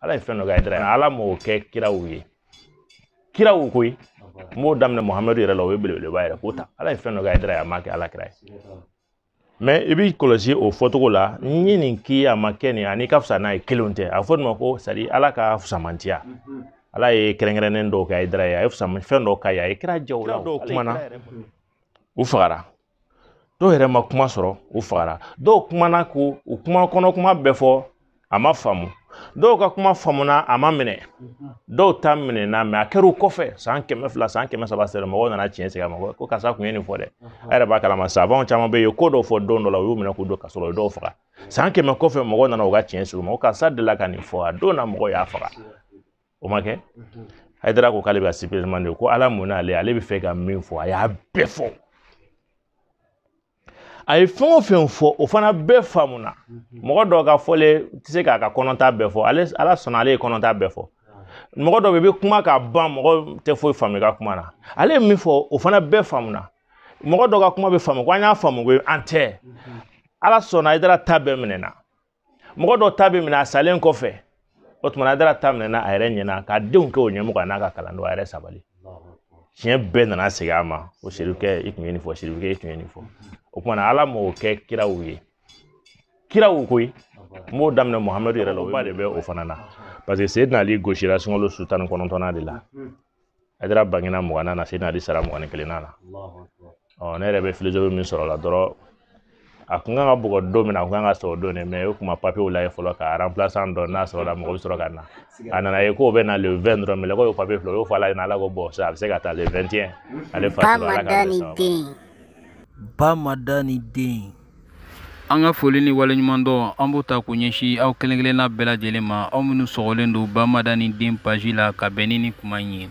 ala ye fɛn dɔ kɛ hayidara ala m'o kɛ kiraw ye kiraw koyi n b'o daminɛ muhamadu yɛrɛ la o ye belebeleba yɛrɛ k'o ta ala ye fɛn dɔ kɛ hayidara a ma kɛ ala kira ye mɛ i b'i kɔlɔsi o fɔcogo la n ye nin k'i a ma kɛ nin ani ka fisa n'a ye kelen tɛ a fɔ nin ma ko sadi ala ka fusamantiya ala ye kɛrɛnkɛrɛnnen dɔw kɛ hayidara ye a ye fɛn dɔw k'a ye a ye kira jaw la dɔw kumana u fagara dɔw yɛrɛ ma kuma sɔrɔ u fagara dɔw kumana ko u kuma kɔnɔ kuma bɛɛ fɔ a ma faamu dɔw ka kuma faamuna a ma minɛ dɔw ta minɛna mɛ a kɛra u kɔfɛ san kɛmɛ fila san kɛmɛ saba sera mɔgɔw nana tiɲɛ sigi a ma ko karisa kun ye nin fɔ dɛ a yɛrɛ b'a kalama savants caman bɛ yen ko dɔw fɔ don dɔ la u y'u minɛ k'u don kaso la u dɔw faga san kɛmɛ kɔfɛ mɔgɔw nana u ka tiɲɛ sigi u ma ko karisa delila ka nin fɔ a don na mɔgɔw y'a faga o ma kɛ hayidara ko k'ale bɛ ka sipereman de ko ala mun n'ale ale bɛ fɛ ka min fɔ a y'a bɛɛ fɔ a ye fɛn o fɛn fɔ o fana bɛɛ faamuna mɔgɔ dɔw ka fɔlen tɛ se k'a ka kɔnɔta bɛɛ fɔ ale ala sɔnna ale ye kɔnɔta bɛɛ fɔ mɔgɔ dɔ bɛ i bɛ kuma k'a ban mɔgɔ tɛ foyi faamu i ka kuma na ale ye min fɔ o fana bɛɛ faamuna mɔgɔ dɔ ka kuma bɛ faamu ko an y'a faamu ko an tɛ ala sɔnna hayidara ta bɛɛ minɛna mɔgɔ dɔ ta bɛ minɛ a salen kɔfɛ o tuma na hayidara ta minɛna a yɛrɛ ɲɛna k'a denw kɛ o ɲɛmɔgɔ n'a ka kalanden a yɛrɛ sabali tiɲɛ bɛɛ nana segin a ma o serifukɛ i tun ye nin fɔ serifukɛ i tun ye nin fɔ o tuma na ala m'o kɛ kiraw ye kiraw koyi n b'o daminɛ muhamadu yɛrɛ la o ba de bɛ o fana na parce que seydina ali gosira sunkalo su tan ni kɔnɔntɔnnan de la Hayidara bangena mugannan na Seydina Ali sara mugan ni kelennan na ɔ ne yɛrɛ bɛ filozofi min sɔrɔ la dɔrɔn a kun kan ka bugɔ don min na a kun kan ka sa o don de mɛ o kuma papiyew lajɛ fɔlɔ ka aranpilasan dɔn n'a sɔrɔla mɔgɔ bɛ sɔrɔ ka na a nana ye k'o bɛnna le 20 dɔrɔn mɛlɛkɛ ye papiye filɛ o y'o fɔ ala ɲɛna ala ko bon a bɛ se ka taa le 21 ale fa bamadani den bamadani den an ka foli ni waleɲumandɔn an b'o ta k'o ɲɛsin aw kelen kelenna bɛɛ lajɛlen ma aw minnu sɔgɔlen don bamadani den paji la ka bɛn ni ni kuma in ye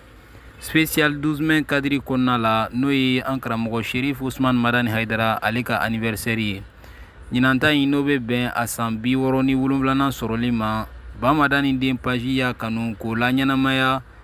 spécial 12 mai kadiri kɔnɔna la n'o ye an karamɔgɔ sherif usman madani haidara ale ka anniversaire ye ɲinanta in n'o bɛ bɛn a san bi wɔɔrɔ ni wolonwulanan sɔrɔli ma bamadani den paji y'a kanu k'o laɲɛnamaya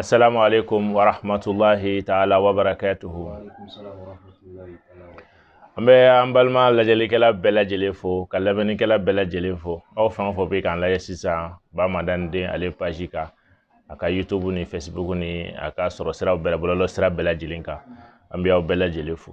assalamu alaikum wa rahmatullahi ta'ala wa barakatuhu an bɛ an balima lajɛlikɛla bɛɛ lajɛlen fo ka lamɛnnikɛla bɛɛ lajɛlen fo aw fɛn o fɛn bɛ k'an lajɛ sisan bamadani den ale paji kan a ka youtube ni facebook ni a ka sɔrɔ siraw bɛɛ bɔlɔlɔ sira bɛɛ lajɛlen kan an bɛ aw bɛɛ lajɛlen fo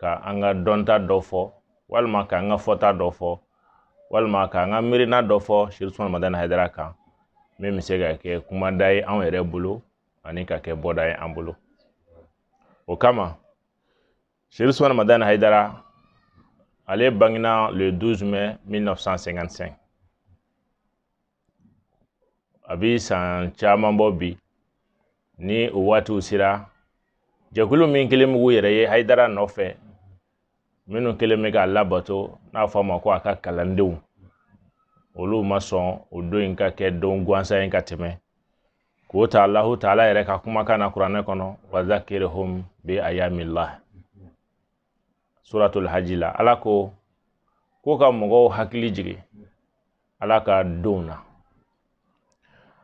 ka an ka dɔnta dɔ fɔ walima ka an ka fɔta dɔ fɔ walima ka an ka miirina dɔ fɔ cherif ousmane madani haidara kan min bɛ se ka kɛ kumada ye anw yɛrɛ bolo ani ka kɛ bɔda ye an bolo o kama cherif ousmane madani haidara ale bangena le 12 mai 1955 a bɛ san caman bɔ bi ni o waatiw sera jɛkulu min kelen b'u yɛrɛ ye haidara nɔfɛ minnu kɛlen bɛ k'a labato n'a fɔ a ma ko a ka kalandenw olu ma sɔn o don in ka kɛ don gansan ye ka tɛmɛ k'o ta alahu taala yɛrɛ ka kumakan na kuranɛ kɔnɔ wa zakirhum bi ayamillah suratul haji la ala ko ko ka mɔgɔw hakili jigin ala ka donw na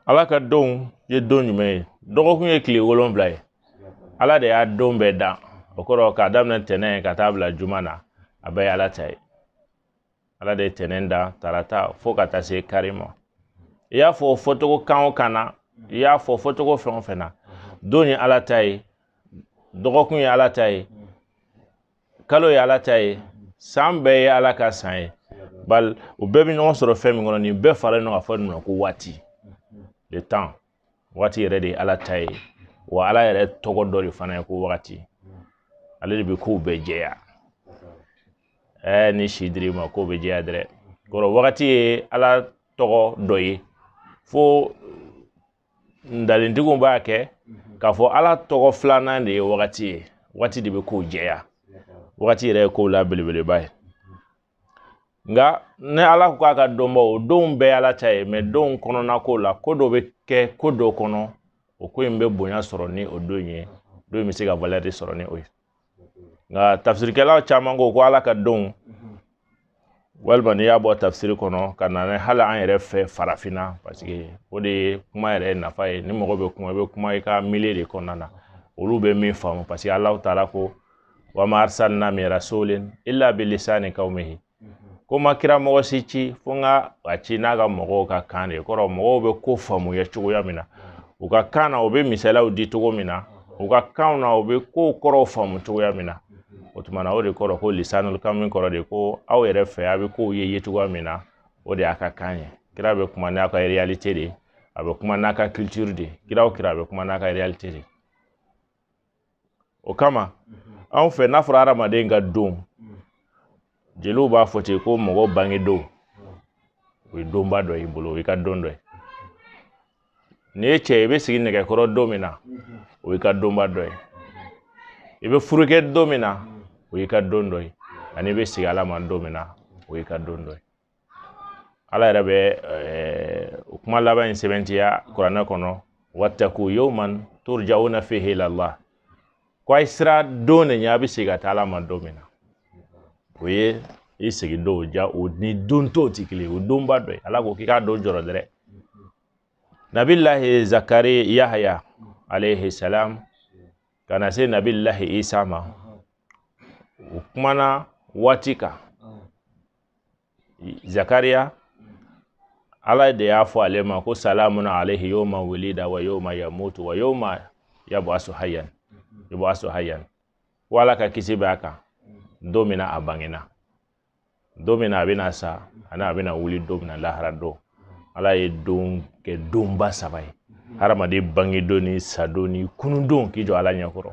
ala ka donw ye don jumɛn ye dɔgɔkun ye tile wolonfila ye ala de y'a don bɛɛ dan o kɔrɔ k'a daminɛ tɛnɛn ka taa bila juma na a bɛɛ ye ala ta ye ala de ye tɛnɛn da tarata fo ka taa se kari ma i y'a fɔ fɔcogo kan o kan na i y'a fɔ fɔcogo fɛn o fɛn na don ye ala ta ye dɔgɔkun ye ala ta ye kalo ye ala ta ye san bɛɛ ye ala ka san ye bali u bɛɛ bɛ ɲɔgɔn sɔrɔ fɛn min kɔnɔ nin bɛɛ faralen ɲɔgɔn kan fɔ nin ma ko waati le temps waati yɛrɛ de ye ala ta ye wa ala yɛrɛ tɔgɔ dɔ de fana ye ko waati ale de bɛ kow bɛɛ jɛya ɛɛ ni si dir'i ma kow bɛ jɛya dɛrɛ kɔrɔ waati ye ala tɔgɔ dɔ ye fo ntalentigiw b'a kɛ k'a fɔ ala tɔgɔ filanan de ye waati ye waati de bɛ kow jɛya waati yɛrɛ ye kow la belebeleba ye nka ni ala ko k'a ka donba o donw bɛɛ ala ta ye mais donw kɔnɔna ko la ko dɔ bɛ kɛ ko dɔ kɔnɔ o ko in bɛ bonya sɔrɔ ni o don ye don bɛ se ka valeur sɔrɔ ni o ye nka tafsirikɛlaw caman ko ko ala ka donw walima n'i y'a bɔ tafsiri kɔnɔ ka na ni hali an yɛrɛ fɛ farafinna parce que o de ye kuma yɛrɛ nafa ye ni mɔgɔ bɛ kuma i bɛ kuma i ka milieu de kɔnɔna na olu bɛ min faamu parce que ala taala ko wa ma arsalna min rasulin illa bi lisani qaumihi ko ma kira mɔgɔ si ci fo n ka a ci n'a ka mɔgɔw ka kan de kɔrɔ mɔgɔw bɛ ko faamuya cogoya min na u ka kan na u bɛ misaliyaw di cogo min na u ka kanw na u bɛ kow kɔrɔw faamu cogoya min na o tuma na o de kɔrɔ ko lisanul qaumi kɔrɔ de ko aw yɛrɛ fɛ a bɛ kow ye ye cogoya min na o de y'a ka kan ye kira bɛ kuma n'a ka réalité de a bɛ kuma n'a ka culture de kira o kira a bɛ kuma n'a ka réalité de o kama anw fɛ n'a fɔra adamaden ka don jeliw b'a fɔ ten ko mɔgɔ bange don o ye donba dɔ y'i bolo o y'i ka don dɔ ye n'i ye cɛ ye i bɛ sigi nɛgɛ kɔrɔ don min na o y'i ka donba dɔ ye i bɛ furu kɛ don min na o y'i ka don dɔ ye ani i bɛ segin ala ma don min na o y'i ka don dɔ ye ala yɛrɛ bɛ o kuma laban in sɛbɛntiya kuranɛ kɔnɔ wattaku yawman turjauna fihi ila allah ko a ye siran don de ɲɛ a bɛ segin ka taa ala ma don min na o ye i segin don ja o ni don tɔw tɛ kelen ye o donba dɔ ye ala ko k'i k'a don jɔrɔ dɛrɛ nabilahi zakari yahaya alayhi salam ka na se nabilahi isa ma o kumana waati kan zakariya ala de y'a fɔ ale ma ko salamun alayhi yawma wulida wa yawma yamutu wa yawma yab'asu hayyan yab'asu hayyan ko ala ka kisi b'a kan don min na a bangena don min na a bɛna sa ani a bɛna wuli don min na lahara don ala ye don kɛ donba saba ye hadamaden bangedon ni sadon ni kunundon k'i jɔ ala ɲɛkɔrɔ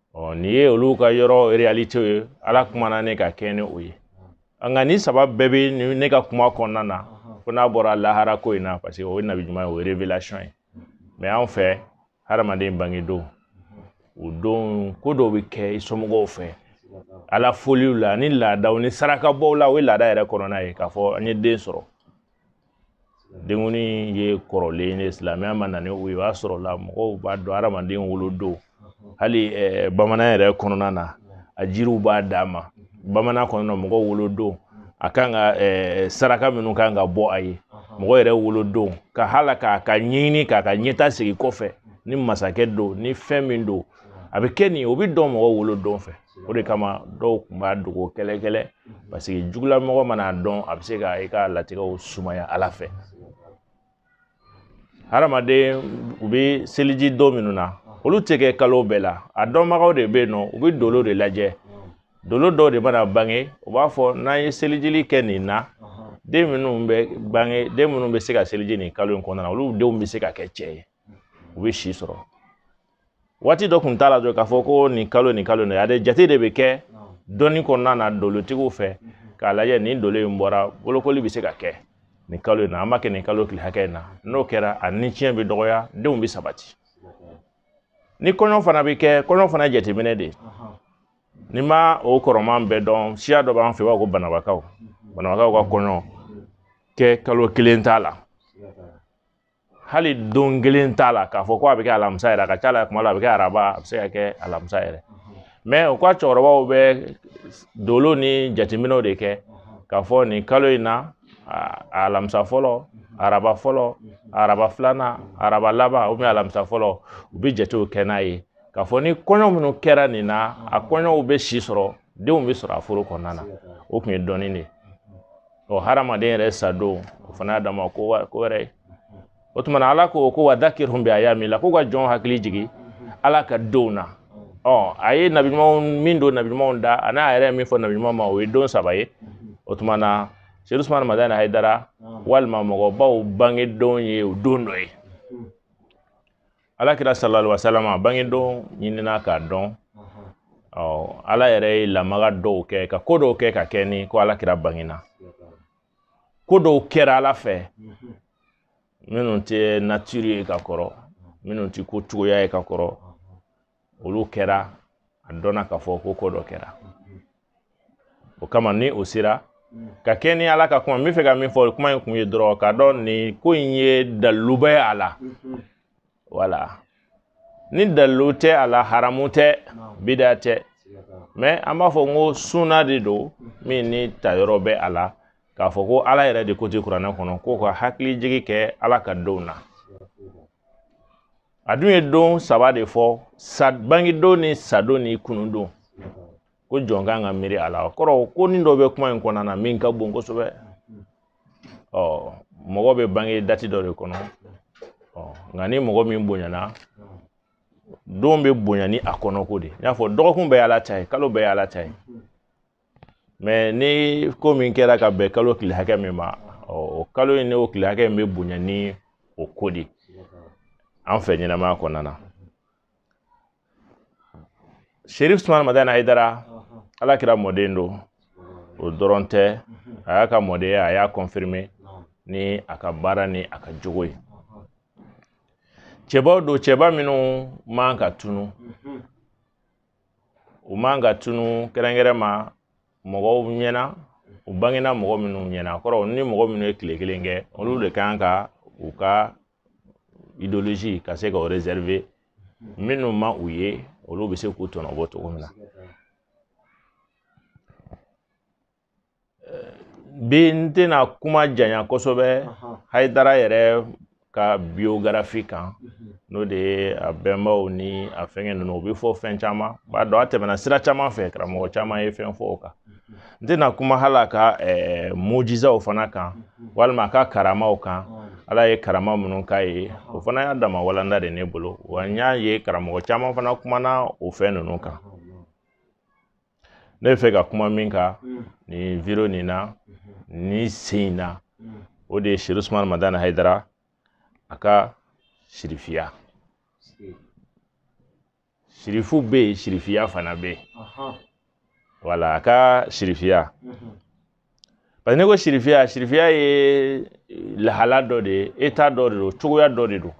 ɔ nin ye olu ka yɔrɔ réalité ye ala kumana ne ka kɛ ni o ye nka nin saba bɛɛ bɛ ne ka kuma kɔnɔna na fo n'a bɔra lahara ko in na parce que o ye nabi ɲuman ye o ye révélation ye mais anw fɛ hadamaden bangedon o don ko dɔw bɛ kɛ i somɔgɔw fɛ ala foliw la ni laadaw ni sarakabɔw la o ye laada yɛrɛ kɔnɔna ye k'a fɔ an ye den sɔrɔ denkundi ye kɔrɔlen ye silamɛya ma na ni o ye o y'a sɔrɔ la mɔgɔw b'a dɔn hadamaden wolodon hali bamanan yɛrɛ kɔnɔna na a jiriw b'a d'a ma bamanan kɔnɔna mɔgɔw wolodon a kan ka saraka minnu kan ka bɔ a ye mɔgɔ yɛrɛ wolodon ka hala k'a ka ɲɛɲini k'a ka ɲɛtaa sigi kɔfɛ ni masakɛ don ni fɛn min don a bɛ kɛ nin o bɛ dɔn mɔgɔ wolodon fɛ o de kama dɔw kun b'a dogo kɛlɛ kɛlɛ parce que jugulamɔgɔ man'a dɔn a bɛ se ka i ka latigɛw sumaya ala fɛ hadamaden u bɛ seliji don minnu na olu tɛ kɛ kalo bɛɛ la a dɔnbagaw de bɛ yen nɔ u bɛ dolo de lajɛ dolo dɔw de mana bange u b'a fɔ n'an ye selijili kɛ nin na den minnu bɛ bange den minnu bɛ se ka seliji nin kalo in kɔnɔna na olu denw bɛ se ka kɛ cɛ ye u bɛ si sɔrɔ waati dɔ kun t'a la dɔrɔn k'a fɔ ko nin kalo nin kalo nin a de jate de bɛ kɛ dɔnni kɔnɔna na dolotigiw fɛ k'a lajɛ ni dolo in bɔra bolokoli bɛ se ka kɛ nin kalo in na an b'a kɛ nin kalo tile hakɛ in na n'o kɛra a ni tiɲɛ bɛ dɔgɔya denw bɛ sabati ni kɔɲɔ fana bɛ kɛ kɔɲɔ fana jateminɛ de ne ma o kɔrɔman bɛɛ dɔn siya dɔ b'an fɛ b'a ko banambakaw banambakaw ka kɔɲɔ kɛ kalo kelen t'a la hali don kelen t'a la k'a fɔ ko a bɛ kɛ alamisa yɛrɛ a ka ca la tuma dɔ a bɛ kɛ araba a bɛ se ka kɛ alamisa yɛrɛ mais u ka cɛkɔrɔbaw bɛ dolo ni jateminɛw de kɛ k'a fɔ nin kalo in na alamisa fɔlɔ araba fɔlɔ araba filanan araba laban ou bien alamisa fɔlɔ u bɛ jatew kɛ n'a ye k'a fɔ ni kɔɲɔ minnu kɛra nin na a kɔɲɔw bɛ si sɔrɔ denw bɛ sɔrɔ a furu kɔnɔna na o tun ye dɔnni de ye ɔ hadamaden yɛrɛ sa don o fana y'a dama ko wɛrɛ ye o tuma na ala ko ko wa dakirhum bi ayamillah ko ka jɔn hakili jigi ala ka donw na ɔ a ye nabi ɲumanw min don nabi ɲumanw da a n'a yɛrɛ min fɔ nabi ɲuman ma o ye don saba ye o tuma na seyid usumana madani hayidara walima mɔgɔbaw bangedon ye o don dɔ ye ala kira salali wasalama bangedon ɲinina k'a dɔn ɔ ala yɛrɛ ye lamaga dɔw kɛ ka ko dɔw kɛ ka kɛ ni ko ala kira bangena ko dɔw kɛra ala fɛ minnu tɛ nature ye ka kɔrɔ minnu tɛ ko cogoya ye ka kɔrɔ olu kɛra a dɔnna k'a fɔ ko ko dɔ kɛra o kama ni o sera ka kɛ ni ala ka kuma n bɛ fɛ ka min fɔ kuma in kun ye dɔrɔn k'a dɔn nin ko in ye dalilu bɛ a la wala ni dalilu tɛ a la haramu tɛ bida tɛ mais an b'a fɔ n ko sunna de don min ni tayɔrɔ bɛ a la k'a fɔ ko ala yɛrɛ de ko ten kuranɛ kɔnɔ ko ka hakili jigi kɛ ala ka donw na a dun ye don saba de fɔ sa bangedon ni sadon ni kunundon ko jɔn kan ka miiri a la kɔrɔ ko ni dɔ bɛ kuma in kɔnɔna na min ka bon kosɛbɛ ɔ mɔgɔ bɛ bange dati dɔ de kɔnɔ ɔ nka ni mɔgɔ min bonyana don bɛ bonya ni a kɔnɔko de n y'a fɔ dɔgɔkun bɛɛ y'ala ta ye kalo bɛɛ y'ala ta ye mais ni ko min kɛra ka bɛn kalo tile hakɛ min ma o kalo in n'o tile hakɛ in bɛ bonya ni o ko de an fɛ ɲɛnamaya kɔnɔna na sherif usumana madani hayidara ala kira mɔden don o dɔrɔn tɛ a y'a ka mɔdenya a y'a confirmer ni a ka baara ni a ka jogo ye cɛbaw don cɛba minnu man ka tunu u man ka tunu kɛrɛnkɛrɛn ma mɔgɔw ɲɛna u bangena mɔgɔ minnu ɲɛna kɔrɔ ni mɔgɔ minnu ye tile kelen kɛ olu de kan ka u ka idéologie ka se ka o réserver minnu ma u ye olu bɛ se k'u tɔnɔ bɔ cogo min na bi n tɛna kuma janya kosɛbɛ hayidara yɛrɛ ka biographie kan n'o de ye a bɛnbaw ni a fɛngɛ ninnu o bɛ fɔ fɛn caman b'a dɔn a tɛmɛna sira caman fɛ karamɔgɔ caman ye fɛn fɔ o kan n tɛna kuma hali a ka eh, mujizaw fana kan walima a ka karamaw kan ala ye karama minnu k'a ye o fana y'a dama walanda de ne bolo wa n y'a ye karamɔgɔ caman fana kumana o fɛn ninnu kan ne bɛ fɛ ka kuma min kan nin video nin na nin sen in na o de ye serifu usumani madani hayidara a ka sirifiya sirifu bɛ yen sirifiya fana bɛ yen wala a ka sirifiya mhm. parce que ne ko sirifiya sirifiya ye lahala dɔ de ye état dɔ de don cogoya dɔ de don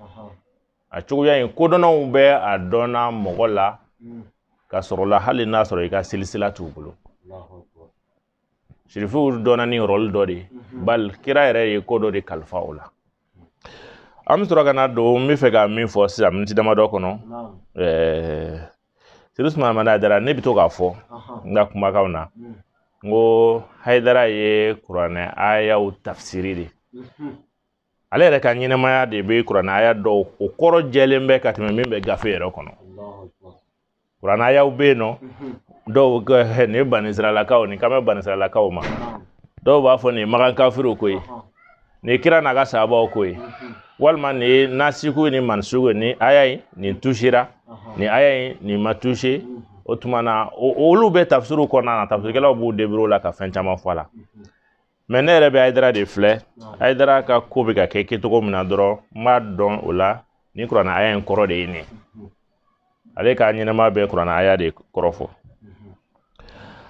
a cogoya in kodɔnnaw bɛ a dɔnna mɔgɔ la mm. ka sɔrɔ la hali n'a sɔrɔ i ka silisila t'u bolo sirifiw dɔnna ni rɔli dɔ de ye mhm. bali kira yɛrɛ ye ko dɔ de kalifa o la an bɛ sɔrɔ ka na don n bɛ fɛ ka min fɔ sisan miniti damadɔ kɔnɔ ɛɛ serifu usumani madani hayidara ne bɛ to k'a fɔ n ka kumakanw na mm. n ko hayidara ye kuranɛ ayaw tafsiri de mhm. ale yɛrɛ ka ɲɛnamaya de bɛ kuranɛ aya dɔw o kɔrɔ jɛlen bɛ ka tɛmɛ min bɛ gafe yɛrɛ kɔnɔ kuranɛ ayaw bɛ yen nɔ dɔw ko nin ye banisiralakaw nin kan bɛ banisiralakaw ma dɔw b'a fɔ nin ye makan kafiriw ko ye nin ye kira n'a ka sabaw ko ye walima nin ye nasiku ni mansuku ni aya in nin tusera nin aya in nin ma tuse o tuma na olu bɛ tafsiriw kɔnɔna na tafsirikɛlaw b'u débrouiller la ka fɛn caman fɔ a la mais ne yɛrɛ bɛ hayidara de filɛ hayidara ka ko bɛ ka kɛ kɛcogo min na dɔrɔn n b'a dɔn o la ni kuranɛ aya in kɔrɔ de ye nin ale ka ɲɛnamaya bɛ kuranɛ aya de kɔrɔ fɔ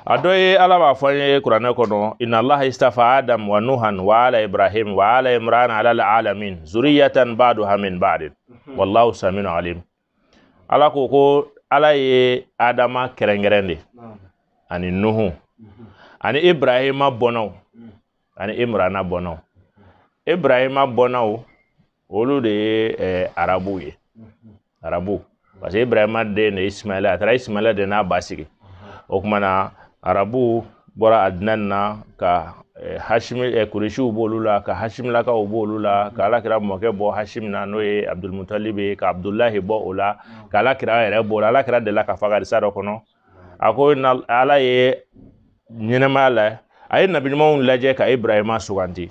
a dɔ ye ala b'a fɔ an ye kuranɛ kɔnɔ inna allaha istafa adam wa nuhan wa ala ibrahim wa ala imran ala alamin zuriyatan ba'duha min ba'din wallahu samiun alim ala ko ko ala ye adama kɛrɛnkɛrɛn de ani nuhu mhm. ani ibrahima bɔnnaw mhm. ani imrana bɔnnaw ibrahima bɔnnaw olu de ye eh, arabuw ye mhm. arabu parce que ibrahima den de ye ismaila a taara ismaila de n'a ba sigi o kuma na arabuw bɔra adnan na ka eh, hashimi eh, kuresiw b'olu la ka hashimilakaw b'olu la ka alakira mɔkɛ bɔ hashim na n'o ye abdulmutalib ye ka abdulahi bɔ o la ka alakira yɛrɛ b'o la alakira delila k'a fɔ hadisa dɔ kɔnɔ a ko ala ye ɲɛnamaya la a ye nabiɲumanw lajɛ ka ibrahima suganti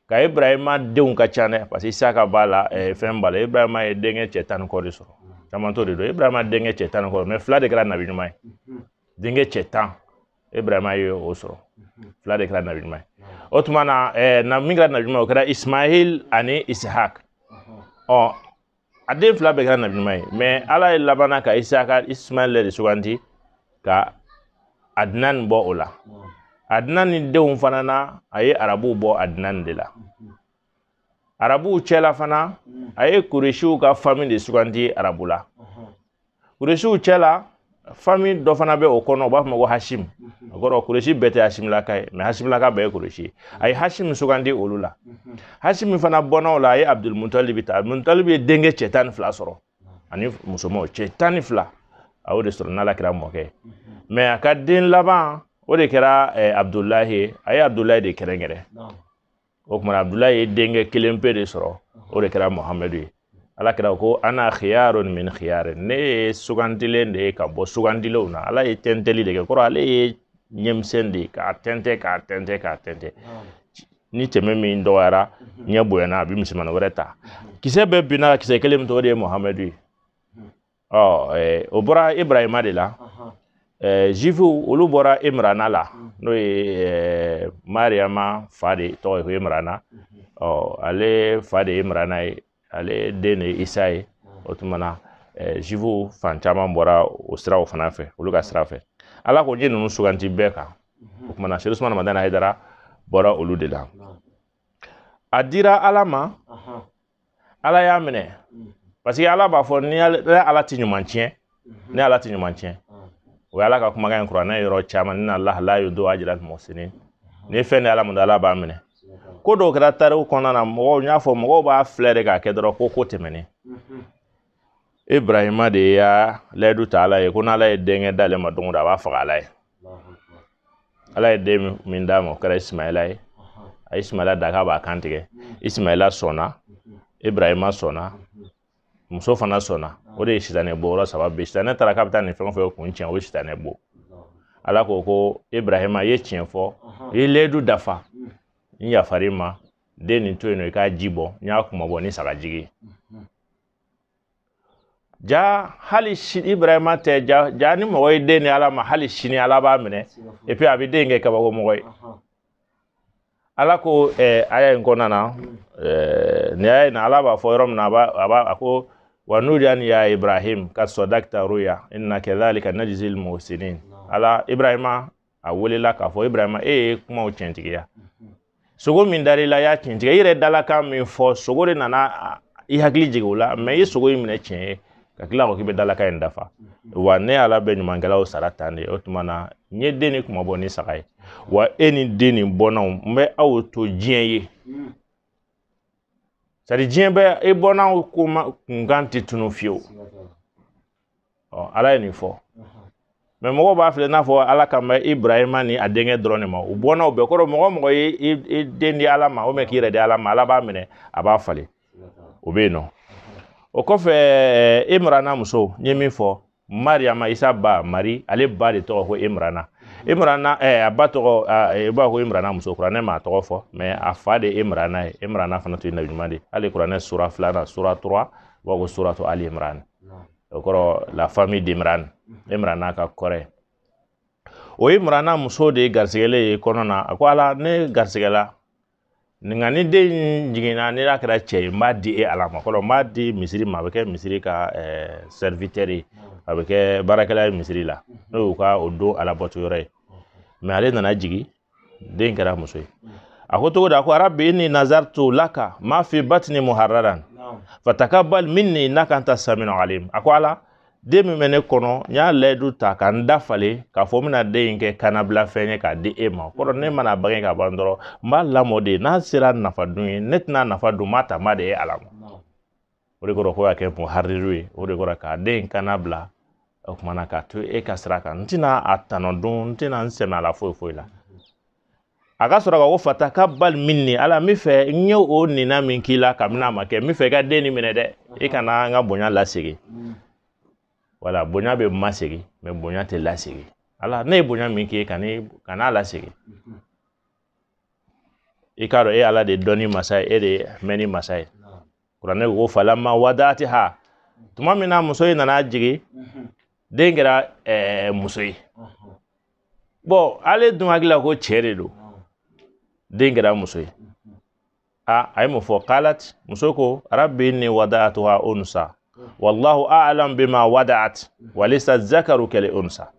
ka ibrahima denw ka ca dɛ parce que isaka b'a la eh, fɛn b'a la ibrahima ye denkɛ cɛ tan ni kɔ de sɔrɔ caman to de don ibrahima denkɛ cɛ tan ni kɔ mais fila de kɛra nabi ɲuman ye denkɛ cɛ tan ibrahima ye o sɔrɔ fila de kɛra nabi ɲuman ye o tuma na eh, na min kɛra nabi ɲuman ye o kɛra ismail ani ishak ɔ a den fila bɛɛ kɛra nabi ɲuman ye mɛ ala ye labanna ka isaka ismaɛl de suganti ka adinan bɔ o la adinan ni denw fana na a ye arabuw bɔ adinan de la arabuw cɛla fana a ye kuresiw ka fami de suganti arabu la kuresiw cɛ la fami dɔ fana bɛ o kɔnɔ u b'a fɔ ma ko hasim o kɔrɔ kuresi bɛɛ tɛ hasimilaka ye mɛ hasimilaka bɛɛ ye kuresi ye a ye hasim sugandi olu la hasim fana bɔnnaw la a ye abudulmutalibi ta abudulmutalibi ye denkɛ cɛ tan ni fila sɔrɔ ani musomanw cɛ tan ni fila a y'o de sɔrɔ n'ala kira mɔkɛ ye mɛ a ka den laban o de kɛra eh, abudulahi ye a ye abudulahi de kɛrɛnkɛrɛn o tuma abdulayi ye denkɛ kelen pe de sɔrɔ o de kɛra muhamadu ye ala kira ko ana khiyarun min khiyarin ne ye sugandilen de ye ka bɔ sugandilenw na ala ye tɛntɛli de kɛ kɔrɔ ale ye ɲɛmisɛn de ye k'a tɛntɛ k'a tɛntɛ k'a tɛntɛ ni tɛmɛ min dɔgɔyara ɲɛ bonyana a bɛ misimani wɛrɛ ta kisɛ bɛɛ binna kisɛ kelen min tɔgɔ de ye muhamadu ye ɔ o bɔra ibrahima de la zifuw olu bɔra imrana la n'o ye mariama fa de tɔgɔ ye ko imrana ɔ ale fa de ye imrana ye ale den de ye isa ye o tuma na zifuw fan caman bɔra o siraw fana fɛ olu ka sira fɛ ala ko n ye ninnu suganti bɛɛ kan o tuma na seyid usumana madani hayidara bɔra olu de la a dira ala ma ala y'a minɛ parce que ala b'a fɔ ne ala ti ɲuman tiɲɛ ne ala ti ɲuman tiɲɛ o ye ala ka kumakan ye kuranɛ yɔrɔ caman innallaha la yudi'u ajral muhsinin ni fɛn di ala ma ala b'a minɛ ko dɔw kɛra tariku kɔnɔna na mɔgɔw n'i y'a fɔ mɔgɔw b'a filɛ de k'a kɛ dɔrɔn ko ko tɛmɛnen ibrahima de y'a layidu ta ala ye ko n'ala ye denkɛ d'ale ma don o don a b'a faga ala ye ala ye den min d'a ma o kɛra isimayɛla ye a ye isimayɛla da k'a b'a kan tigɛ isimayɛla sɔnna ibrahima sɔnna muso fana sɔnna o de ye sitanɛ bon yɔrɔ saba bɛɛ sitanɛ taara k'a bɛ taa nin fɛn o fɛn kun tiɲɛ o ye sitanɛ bon ala ko ko ibrahima i ye tiɲɛ fɔ i ye layidu dafa n yafara i ma den nin to yen nɔ i k'a ji bɔ n y'a kunmabɔ ni sagajigi ye ja hali si ibrahima tɛ ja ja ni mɔgɔ ye den ni ala ma hali sini ala b'a minɛ et puis a bɛ den kɛ kabako mɔgɔ ye ala ko eh, aya in kɔnɔna na eh, nin aya in na ala b'a fɔ yɔrɔ min na a b'a a b'a a ko wa nudiyan ya ibrahim kad sadakta ruya inna kadhalika najzil muhsinin ala ibrahima a welela k'a fɔ ibrahima e ye kumaw tiɲɛtigiya sogo min dar'i la i y'a tiɲɛtigiya i yɛrɛ dalakan min fɔ sogo de nana i hakili jigin o la mɛ i ye sogo in minɛ tiɲɛ ye ka tila ko k'i bɛ dalakan in dafa wa ne ala bɛ ɲumankɛlaw sara tan de o tuma na n ye den nin kunmabɔ ni saga ye wa e ni den nin bɔnnaw n bɛ aw to diɲɛ ye sari diɲɛ bɛ e bɔnnaw ko ma kunkan tɛ tunun fiyewu ɔ ala ye nin fɔ mɛ mɔgɔw b'a filɛ n'a fɔ ala kan bɛ ibrahima ni a denkɛ dɔrɔn de ma u bɔnnaw bɛɛ kɔrɔ mɔgɔ mɔgɔ ye i den di ala ma ou bien k'i yɛrɛ di ala ma ala b'a minɛ a b'a falen o bɛ yen nɔ o kɔfɛ eh, imrana muso n ye min fɔ mariyama isa ba mari ale ba de tɔgɔ ko imrana imrana eh, a ba tɔgɔ i eh, b'a ko imrana muso kuranɛ m'a tɔgɔ fɔ mɛ a fa de imrana ye imrana fana tun ye nabi ɲuman de hali kuranɛ sura filanan sura trois u b'a ko suratu ali imrana o kɔrɔ la famille d'Imran Imrana ka kɔrɛ o ye Imrana muso de garisigɛlen ye kɔnɔ na a ko ala ne garisigɛla nka ni den in jiginna ne n'a kɛra cɛ ye n b'a di e ala ma kɔrɔ n b'a di misiri ma a bɛ kɛ misiri ka serviteur ye a bɛ kɛ baarakɛla ye misiri la n'o y'u ka o don alabato yɔrɔ ye mɛ ale nana jigin den kɛra muso ye a ko cogo di a ko rabbi inni nazartu laka ma fi batni muharraran fatakabbal minni innaka anta samiul alim a ko ala den min bɛ ne kɔnɔ n y'a layidu ta ka n dafalen k'a fɔ n bɛna den in kɛ kanabila fɛn ye k'a di e ma kɔrɔ ne mana bange ka ban dɔrɔn n b'a lamɔ de n'a sera nafa dun ye ne tɛn'a nafa dun n b'a ta n b'a di e ala ma o de kɔrɔ ko k'a kɛ muhariru ye o de kɔrɔ ka den kanabila o kuma na k'a to e ka sira kan n tɛna a tɔnɔ dun n tɛna n sɛmɛ a la foyi foyi la a ka sɔrɔ ka ko fatakabbal minni ala n bɛ fɛ n ye o nina min k'i la kabini a ma kɛ n bɛ fɛ i ka den nin minɛ dɛ i kana n ka bonya lasegin wala bonya bɛ masegin mɛ bonya tɛ lasegin ala ne ye bonya min k'i ye kan'a lasegin i k'a dɔn e ala de dɔnni masa ye e de mɛnni masa ye kuranɛ ko falamma wada'atiha tuma min na muso in nana jigin den kɛra ɛɛ muso ye bɔn ale dun hakili la ko cɛ de don den kɛra muso ye a a ye mun fɔ kalat muso ko rabbi inni wada'atuha unsa wallahu a'lam bima wada'at walaysa zakaru kal unsa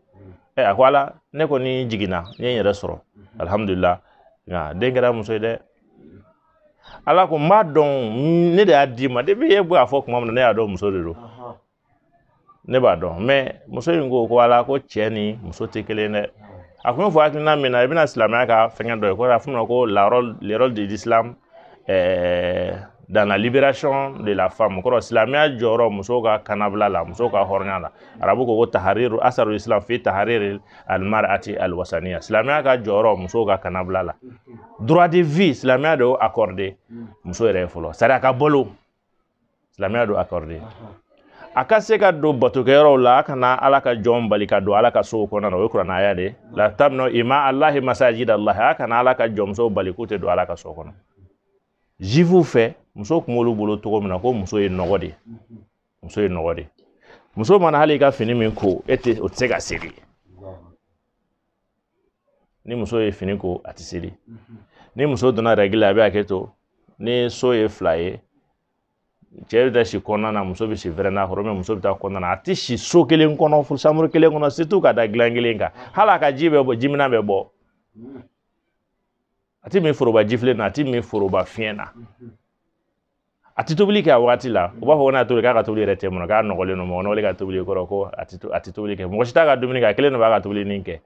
ɛ a ko ala ne kɔni jiginna n ye n yɛrɛ sɔrɔ alhamdulillah nka den kɛra muso ye dɛ ala ko n b'a dɔn ne de y'a d'i ma depuis e b'a fɔ tuma min na ne y'a dɔn muso de don ne b'a dɔn mɛ muso in ko ko ala ko cɛ ni muso tɛ kelen dɛ a kun bɛ fɔ hakilina min na i bɛna silamɛya ka fɛngɛ dɔ ye ko a fɔ ma ko le rôle de l'islam ɛɛ dans la libération de la femme kɔrɔ silamɛya jɔyɔrɔ musow ka kanabila la musow ka hɔrɔnya la arabu ko ko tahariru asarul islam fi tahariri almarati alwasaniya silamɛya ka jɔyɔrɔ musow ka kannabila la droit de vie silamɛya de y'o accordé muso yɛrɛ ye fɔlɔ sariya ka balo silamɛya d'o accordé a ka se ka don batokɛyɔrɔw la a kana ala ka jɔn bali ka don ala ka sow kɔnɔna na o ye kuranaya de la tamnau ima alahi masajid alahi a kana ala ka jɔnmusow bali k'u tɛ don ala ka so kɔnɔ jifuw fɛ muso kun b'olu bolo cogo min na ko muso ye nɔgɔ de ye muso ye nɔgɔ de muso mana hali ka fini min ko e tɛ o tɛ se ka seri ni muso ye fini ko a tɛ seri ni muso donna règle la a bɛ hakɛ to ni so ye fila ye cɛ bɛ taa si kɔnɔna na muso bɛ si véranda kɔrɔ mais muso bɛ taa kɔnɔna na a tɛ si so kelen kɔnɔ fo chambre kelen kɔnɔ surtout ka da gilan kelen kan hali a ka ji bɛ bɔ jiminnan bɛ bɔ a ti min foroba jifilen na a ti min foroba filen na a ti tobili kɛ a wagati la u b'a fɔ ko n'a tobili k'a ka tobili yɛrɛ tɛ mɔ k'a nɔgɔlen don mɔgɔ nɔgɔlen ka tobili kɔrɔ ko a ti a ti tobili kɛ mɔgɔ si t'a ka dumuni kɛ a kelen de b'a ka tobili nin kɛ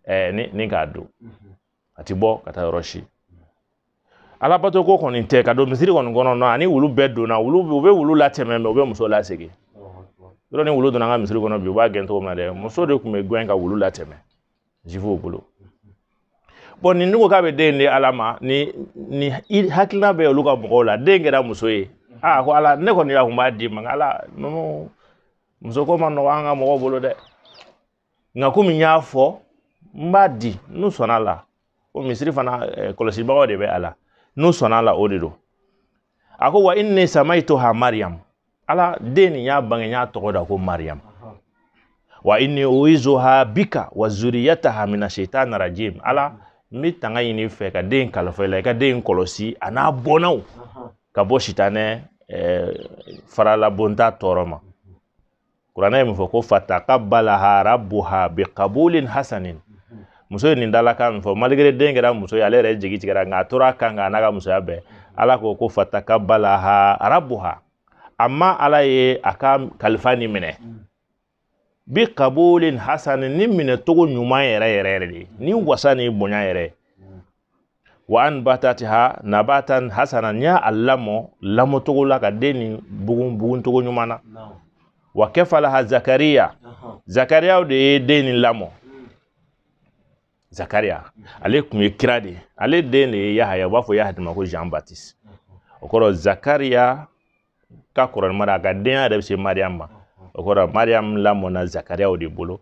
ɛɛ ni ni k'a dun a ti bɔ ka taa yɔrɔ si ala bato ko kɔni tɛ ka don misiri kɔni kɔnɔ n'a ni wulu bɛɛ donna wulu u bɛ wulu latɛmɛ mais u bɛ muso lasegin yɔrɔ ni wulu donna an ka misiri kɔnɔ bi u b'a gɛn cogo min na dɛ muso de tun bɛ gɛn ka wulu latɛmɛ jifuw bolo bon nin ko k'a bɛ den di ala ma ni nin hakilina bɛ olu ka mɔgɔw la den kɛra muso ye aa ko ala ne kɔni y'a kun b'a di i ma ala ninnu muso ko ma nɔgɔ an ka mɔgɔw bolo dɛ nka komi n y'a fɔ n b'a di n'u sɔnna a la o misiri fana eh, kɔlɔsibagaw de bɛ a la n'u sɔnna a la o de don a ko wa inni samaituha mariyamu ala den nin y'a bange n y'a tɔgɔ da ko mariyamu wa inni uizuha bika wa zuriyataha mina shaitan rajim ala n bɛ tanga ɲini i fɛ ka den kalifa i la i ka den kɔlɔsi a n'a bɔnnaw ka bɔ sitanɛ eh, faralabonta tɔɔrɔ ma kuranɛ ye mun fɔ ko fatakabalaha rabuha bikabulin hasanin muso ye nin dalakan min fɔ malgré den kɛra muso ye ale yɛrɛ jigi tigɛra nka a tora a kan kan a n'a ka musoya bɛɛ ala ko ko fatakabalaha rabuha amma ala ye a ka kalifa nin minɛ bikabulin hasanin ni minɛ cogo ɲuman yɛrɛ yɛrɛ yɛrɛ de ni wasa ni bonya yɛrɛ wa anbatatiha nabatan hasana n'i y'a lamɔ lamɔcogo la ka den nin bugun buguncogo ɲuman na wa kafalaha zakariya zakariya de ye den nin lamɔ hmm. zakariya ale tun ye kira de ye ale den de ye yahaya u b'a fɔ yahaya ma ko jean baptiste o kɔrɔ zakariya ka kɔrɔ ni mara a ka denya yɛrɛ bɛ se mariyamu ma o kɔrɔ mariyamu lamɔna zakariya de bolo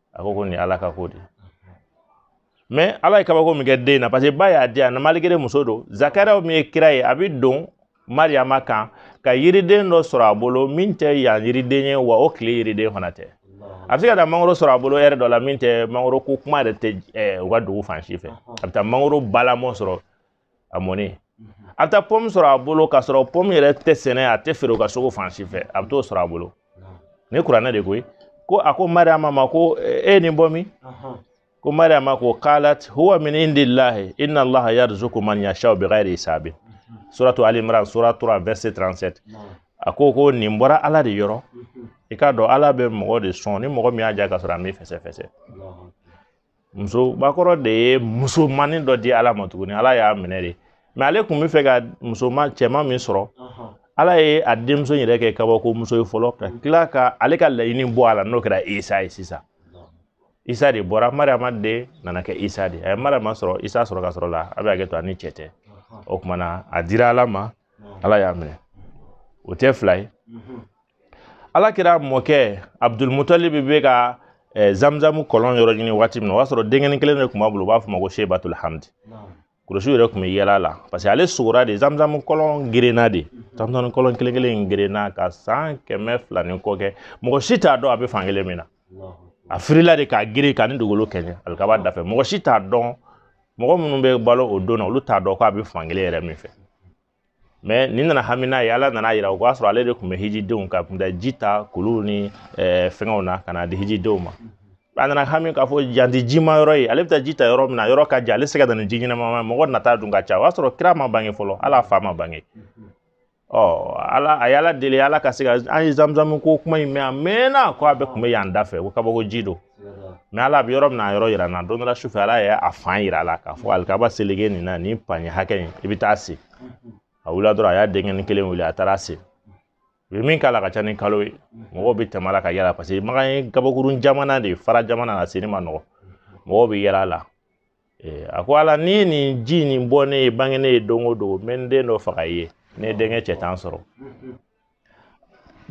a ko ko nin ala ka ko de mɛ ala ye kabako min kɛ den na parce que ba y'a di ala ma malgré muso don zakariya min ye kira ye a bɛ don mariyama kan ka yiriden dɔ sɔrɔ a bolo min tɛ yan yiriden ye wa o tile yiriden fana tɛ a bɛ se ka taa mangoro sɔrɔ a bolo heure dɔ la min tɛ mangoro ko kuma yɛrɛ tɛ u ka dugu fan si fɛ a bɛ taa mangoro balamɔ sɔrɔ a mɔnen a bɛ taa pɔmu sɔrɔ a bolo k'a sɔrɔ pɔmu yɛrɛ tɛ sɛnɛ a tɛ feere u ka sugu fan si fɛ a bɛ t'o sɔrɔ a bolo nin kuranɛ de koyi ko a ko mariama ma ko e ye nin bɔ min ko mariama ko qalat huwa min indillahi inna allaha yarzuqu man yashau bighairi hisabin suratu ali imran sura 3 verset 37 a ko ko nin bɔra ala de yɔrɔ i k'a dɔn ala bɛ mɔgɔ de sɔn ni mɔgɔ min y'a diya ka sɔrɔ a m'i fɛsɛfɛsɛ muso bakɔrɔ de ye musomannin dɔ di ala ma tuguni ala y'a minɛ de mɛ ale tun b'a fɛ ka musoman cɛman min sɔrɔ ala ye a denmuso yɛrɛ kɛ kabako muso ye fɔlɔ ka tila ka ale ka laɲini bɔ a la n'o kɛra isa ye sisan isa de bɔra mariama de nana kɛ isa de a ye mariama sɔrɔ isa sɔrɔ ka sɔrɔ la a bɛ hakɛ to a ni cɛ tɛ o tuma na a dira ala ma ala y'a minɛ o tɛ fila ye ala kira mɔkɛ abudulmutalib bɛ ka eh, zamzamu kɔlɔn yɔrɔ ɲini waati min na o y'a sɔrɔ denkɛnin kelen de tun b'a bolo u b'a fɔ ma ko sebatul hamdi kuresiw yɛrɛ tun bɛ yɛlɛ a la parce que ale sugora de zamzamu kɔlɔn gerenna de zamzamu kɔlɔn kelen kelen in gerenna ka san kɛmɛ fila ni kɔ kɛ mɔgɔ si t'a dɔn a bɛ fan kelen min na a firila de k'a geren k'a ni dugukolo kɛɲɛ alikaba dafɛ mɔgɔ si t'a dɔn mɔgɔ minnu bɛ balo o don na olu t'a dɔn k'a bɛ fan kelen yɛrɛ min fɛ mɛ nin nana hami n'a ye ala nana yira o b'a sɔrɔ ale de tun bɛ hijidenw ka kunda ji ta kulu ni eh, fɛnkɛw na ka n'a di hijidenw ma a nana hami k'a fɔ yan tɛ jima yɔrɔ ye ale bɛ taa ji ta yɔrɔ min na yɔrɔ ka jan ale se ka na ni ji ɲɛnama mɔgɔ nata dun ka ca o y'a sɔrɔ kira ma bange fɔlɔ hali a fa ma bange ɔ ala a y'ala deli ala ka se ka an ye zamzamu ko kuma in mɛn a mɛnna ko a bɛ tun bɛ yan da fɛ ko kabako ji don mɛ ala a bɛ yɔrɔ min na yɔrɔ yira n na don dɔ la sufɛ ala ye a fan yira a la k'a fɔ alikaba seleke nin na nin panye hakɛ in i bɛ t'a sen a wulila dɔrɔn a y'a denkɛnin kelen wuli a taara a sen u ye min k'a la ka ca ni kalo ye mɔgɔw bɛ tɛmɛ a la ka yɛlɛ paseke makan ye gabakurun jamana de ye fara jamana na senni man nɔgɔ mɔgɔw bɛ yɛlɛ a la a ko ala n'i ye nin ji nin bɔ ne ye bange ne ye don o don n bɛ n den dɔ faga i ye ne denkɛ cɛ tan sɔrɔ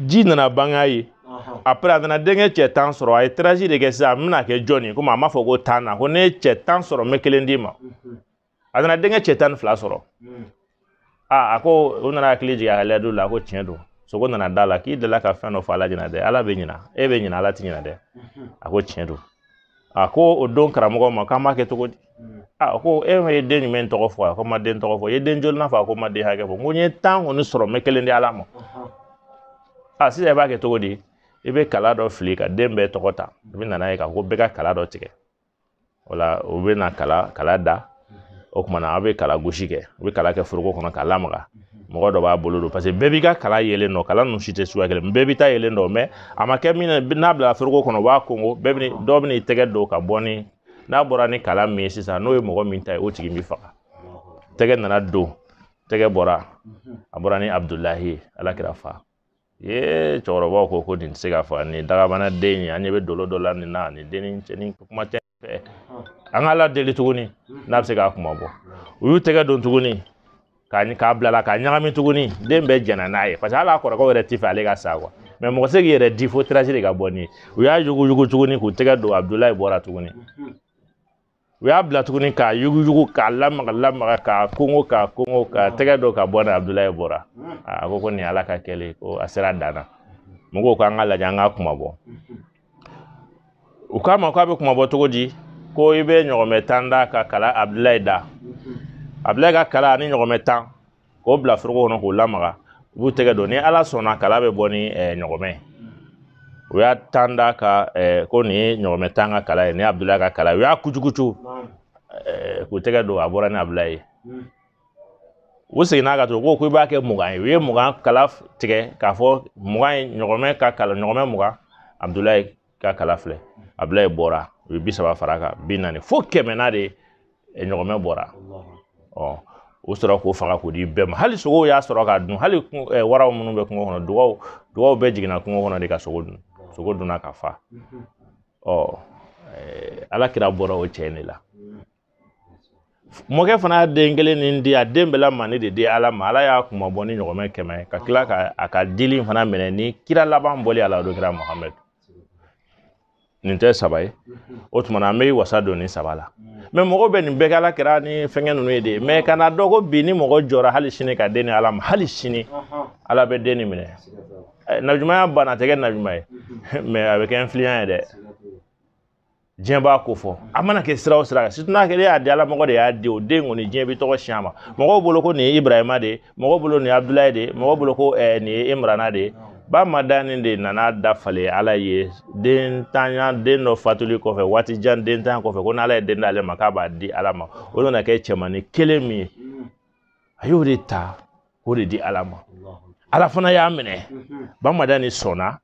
ji nana bange a ye après a nana denkɛ cɛ tan sɔrɔ a ye tirage de kɛ sisan a bɛna kɛ jɔn ye komi a m'a fɔ ko tannan ko ne ye cɛ tan sɔrɔ n bɛ kelen d'i ma a nana denkɛ cɛ tan ni fila sɔrɔ aa a ko u nana hakili jigin a ka layidu la a ko tiɲɛ don sugo nana d'a la k'i delila ka fɛn dɔ fɔ ala ɲɛna dɛ ala bɛ ɲina e bɛ ɲina ala ti ɲina dɛ a ko tiɲɛ don a ko o don karamɔgɔ ma k'an b'a kɛ cogo di a ko e ma ye den jumɛn tɔgɔ fɔ a ko n ma den tɔgɔ fɔ i ye den jolinan fɔ a ko n ma den hakɛ fɔ n ko n ye tan kɔni sɔrɔ n bɛ kelen di ala ma a sisan i b'a kɛ cogo di i bɛ kala dɔ fili ka den bɛɛ tɔgɔ ta i bɛ nana ye k'a fɔ ko bɛɛ ka kala dɔ tigɛ o la u bɛ na kala kala da o kuma na a bɛ kala gosi kɛ u bɛ kala kɛ foroko kɔnɔ k'a lamaga mɔgɔ dɔ b'a bolo don parce que bɛɛ b'i ka kala yelen dɔn kala ninnu si tɛ suguya kelen bɛɛ b'i ta yelen dɔn mais a ma kɛ min na n'a bila foroko kɔnɔ u b'a konko bɛɛ bɛ dɔ bɛ n'i tɛgɛ don ka bɔ ni n'a bɔra ni kala min ye sisan n'o ye mɔgɔ min ta ye o tigi bɛ faga tɛgɛ nana don tɛgɛ bɔra a bɔra ni abudulahi ye ala kira fa ee cɛkɔrɔbaw ko ko nin tɛ se ka faga nin dagabana den ye an ɲɛ bɛ dolo dɔ la nin na nin dennin cɛ ɲi kuma tɛ fɛ an ka ala deli tuguni n'a bɛ se k'a kunmabɔ u y'u tɛgɛ don tuguni k'a k'a bil'a la k'a ɲagami tuguni den bɛɛ jɛnna n'a ye parce que hali a kɔrɔkɛw yɛrɛ t'a fɛ ale ka sa quoi mais mɔgɔ tɛ se k'i yɛrɛ di fo tirage de ka bɔ n'i ye u y'a yuguyugu tuguni k'u tɛgɛ don abudulayi bɔra tuguni u y'a bila tuguni k'a yuguyugu k'a lamaga lamaga k'a kongo k'a kongo k'a tɛgɛ don ka bɔ na abudulayi bɔra a ko ko nin ala ka kɛlen ko a sera dan na mɔgɔw k'an k'a lajɛ an k'a kunmabɔ u k'a ma k'a bɛ kunmabɔ cogo di ko i bɛ ɲɔgɔmɛ tan da ka kala abudulayi da abudulayi ka kala ani ɲɔgɔmɛ tan k'o bila foroko kɔnɔ k'o lamaga u b'u tɛgɛ don ni ala sɔnna kala bɛ bɔ ni ɲɔgɔmɛ ye u y'a tan da ka ko nin ye ɲɔgɔmɛ tan ka kala ye ni abudulayi ka kala u y'a kucukucu k'u tɛgɛ don a bɔra ni abudulayi ye u seginna ka to ko ko i b'a kɛ mugan ye u ye mugan kala tigɛ k'a fɔ mugan ye ɲɔgɔmɛ ka kala ɲɔgɔmɛ mugan abudulayi ka kala filɛ abudulayi bɔra u ye bi saba far'a kan bi naani fo kɛmɛ na de ɲɔgɔmɛ bɔra ɔ o sɔrɔ k'o faga k'o di bɛɛ ma hali sogow y'a sɔrɔ k'a dun hali waraw minnu bɛ kungo kɔnɔ dugaw dugaw bɛɛ jiginna kungo kɔnɔ de ka sogo dun sogo dunna ka fa ɔ ala kira bɔra o cɛ in de la mɔkɛ fana y'a den kelen nin di a den bɛɛ la mandi de di ala ma ala y'a kunmabɔ ni ɲɔgɔmɛ kɛmɛ ka tila ka a ka dili fana minɛ ni kira laban bɔli ala do kira muhamadu nin tɛ saba ye o tuma an bɛ wasa don nin saba la mais mɔgɔ bɛ nin bɛɛ ala kɛra ni fɛngɛ ninnu ye de mais kana dɔn ko bi ni mɔgɔ jɔra hali sini k'a den ni ala ma hali sini ala bɛ den nin minɛ nabiɲumaya banna tɛ kɛ nabiɲuma ye mais a bɛ kɛ influent ye dɛ diɲɛ b'a ko fɔ a mana kɛ sira o sira kan situ n'a kɛ ne y'a di ala mɔgɔ de y'a di o den kɔni diɲɛ bɛ tɔgɔ siɲɛ ma mɔgɔw bolo ko nin ye ibrahima de ye mɔgɔw bolo nin ye abudulayi de ye mɔgɔw bolo ko ɛɛ nin ye imrana de ye ba madani de nana dafalen ala ye dentanya den dɔ fatuli kɔfɛ waati jan dentanya kɔfɛ ko n'ala ye den d'ale ma k'a b'a di ala ma o nana kɛ cɛmannin kelen min ye a y'o de ta k'o de di ala ma ala fana y'a minɛ ba madani sɔnna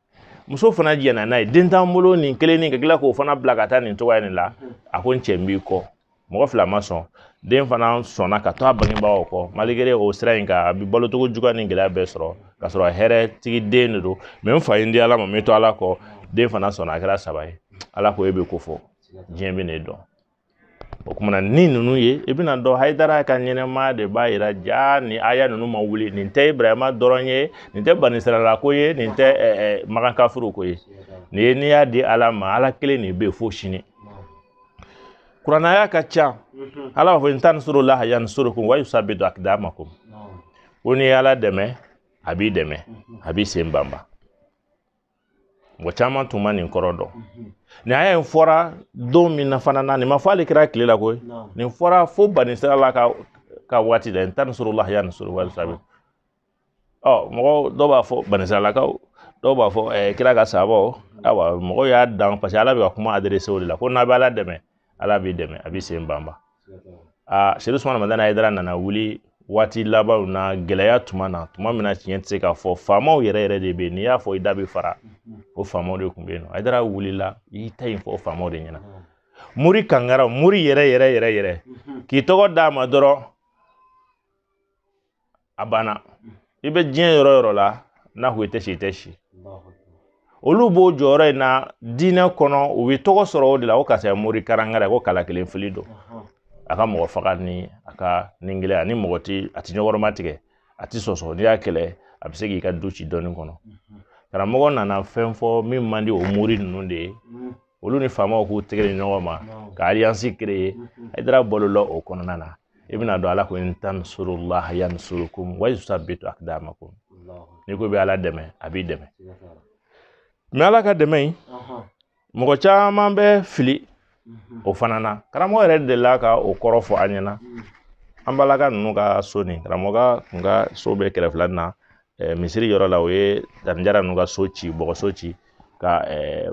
muso fana jɛnna n'a ye den t'an bolo nin kelennin ka tila k'o fana bila ka taa nin cogoya nin la a ko n cɛ n b'i kɔ mɔgɔ fila ma sɔn den fana sɔnna ka to a bangebaaw kɔ malikere o sira in kan a bɛ balocogo juguya ni gɛlɛya bɛɛ sɔrɔ ka sɔrɔ a hɛrɛ tigi den de don mɛ n fa ye n di ala ma n bɛ to ala kɔ den fana sɔnna a kɛra saba ye ala ko e bɛ ko fɔ diɲɛ bɛ ne dɔn o kumana ni ninnu ye i bɛn'a dɔn hayidara ka ɲɛnamaya de b'a yira jaa nin aya ninnu ma wuli nin tɛ ibrahima dɔrɔn ye nin tɛ banisirala ko ye nin tɛ makan kafuru ko ye nin ye n'i y'a di ala ma ala kelen de bɛ yen fo sini kurana aya ka ca ala b'a fɔ in tan surullah yan surukum wa yusabitu akdamakum ko n'i ye ala dɛmɛ a b'i dɛmɛ a b'i sen banba mɔgɔ caman tun ma nin kɔrɔ dɔn nin aya fɔra don min na fana na nin ma fɔ ale kira tile la koyi nin fɔra fo banisiralakaw ka waati la in tan surullah yan suru wa yusabitu mɔgɔ dɔw b'a fɔ banisiralakaw dɔw b'a fɔ ɛɛ kira ka sabaw awa mɔgɔw y'a dan paseke ala bɛ ka kuma adrese o de la ko n'a bɛ ala dɛmɛ ala b'i dɛmɛ a b'i sen banba aseyidu usumani madani hayidara nana wuli waati labanw na gɛlɛya tuma na tuma min na tiɲɛ tɛ se ka fɔ faamaw yɛrɛ yɛrɛ de bɛ yen n'i y'a fɔ i da bɛ fara o faamaw de tun bɛ yen nɔ hayidara wulila i ta in fɔ faamaw de ɲɛna mori kankara mori yɛrɛ yɛrɛ yɛrɛ yɛrɛ k'i tɔgɔ d'a ma dɔrɔn a banna i bɛ diɲɛ yɔrɔ o yɔrɔ la n'a ko i tɛ si i tɛ si olu b'o jɔyɔrɔ in na diinɛ kɔnɔ u bɛ tɔgɔ sɔrɔ o de la ko karisa ye mori karangara ye ko kala kelen fili don a ka mɔgɔ faga ni a ka nin gɛlɛya ni mɔgɔ ti a ti kɔrɔmatigɛ a ti sɔsɔ n'i y'a kɛlɛ a bɛ se k'i ka du ci dɔɔni kɔnɔ karamɔgɔ nana fɛn fɔ min man di o mori ninnu de ye olu ni faamaw k'u tɛgɛ di ɲɔgɔn ma ka aliyansi kereye hayidara balola o kɔnɔna na i bɛn'a dɔn ala ko in tan surullah yan surukum wa yusabitu akdamakum n'i ko bɛ ala dɛmɛ a b'i dɛmɛ mɛ ala ka dɛmɛ in mɔgɔ caman bɛ fili o fana na karamɔgɔ yɛrɛ delila ka o kɔrɔ fɔ an ɲɛna an balaka ninnu ka so ni karamɔgɔ kun ka so bɛ kɛrɛfɛla na misiri yɔrɔ la u ye danjara ninnu ka so ci bɔgɔso ci ka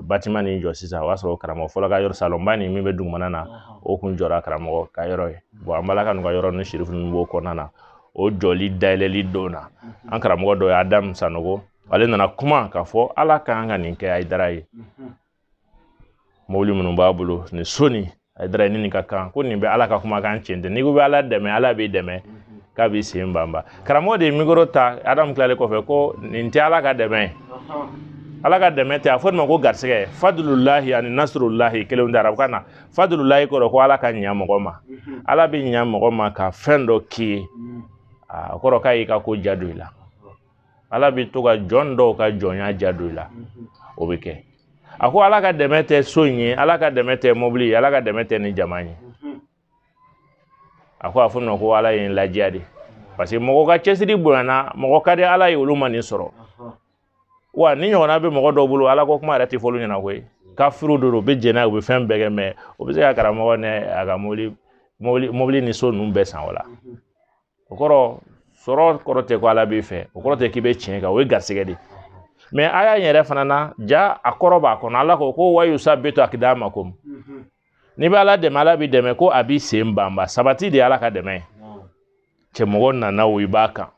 batima nin jɔ sisan o y'a sɔrɔ karamɔgɔ fɔlɔ ka yɔrɔ salonba nin min bɛ dugumana na o kun jɔra karamɔgɔ ka yɔrɔ ye bɔn an balaka ninnu ka yɔrɔ ni sirifu ninnu b'o kɔnɔna na o jɔli dayɛlɛli don na an karamɔgɔ dɔ ye adama sanogo ale nana kuma k'a fɔ ala k'an ka nin kɛ hayidara ye mobili minnu b'a bolo ni so nin hayidara nin ka kan ko nin bɛ ala ka kumakan cɛn tɛ n'i ko bɛ ala dɛmɛ ala b'i dɛmɛ k'a b'i sen banba karamɔgɔ de ye mikoro ta adamu tilalen kɔfɛ ko nin tɛ ala ka dɛmɛ ye ala ka dɛmɛ tɛ a fɔ nin ma ko garisɛgɛ fadululahi ani nasurulahi kelenw tɛ arabukan na fadululahi kɔrɔ ko ala ka ɲa mɔgɔ ma ala bɛ ɲa mɔgɔ ma ka fɛn dɔ k'i ye a kɔrɔ k'a y'i ka ko diya don i la ala bɛ to ka jɔn dɔw ka jɔnya diya don i la o bɛ kɛ a ko ala ka dɛmɛ tɛ so in ye ala ka dɛmɛ tɛ mobili ye ala ka dɛmɛ tɛ nin jama ye a ko a fɔ ma ko ala ye n ladiya de parce que mɔgɔ ka cɛsiri bonyana mɔgɔ ka di ala ye olu ma nin sɔrɔ wa nin ɲɔgɔnna bɛ mɔgɔ dɔw bolo ala ko kuma yɛrɛ tɛ fɔ olu ɲɛna koyi kafiri don u bɛ jɛnɛ u bɛ fɛn bɛɛ kɛ mais o bɛ se ka karamɔgɔ ni a ka mobili mobili mobili ni so ninnu bɛɛ san o la o kɔrɔ sɔrɔ kɔrɔ tɛ ko ala b'i fɛ o kɔrɔ tɛ k'i bɛ tiɲɛ kan o ye garisɛgɛ de ye mais aya yɛrɛ fana na ja a kɔrɔ b'a kɔnɔ ala ko ko wa yusabbitu aqdamakum n'i bɛ ala dɛmɛ ala b'i dɛmɛ ko a b'i sen banba sabati de ye ala ka dɛmɛ ye cɛ mɔgɔ nana o i b'a kan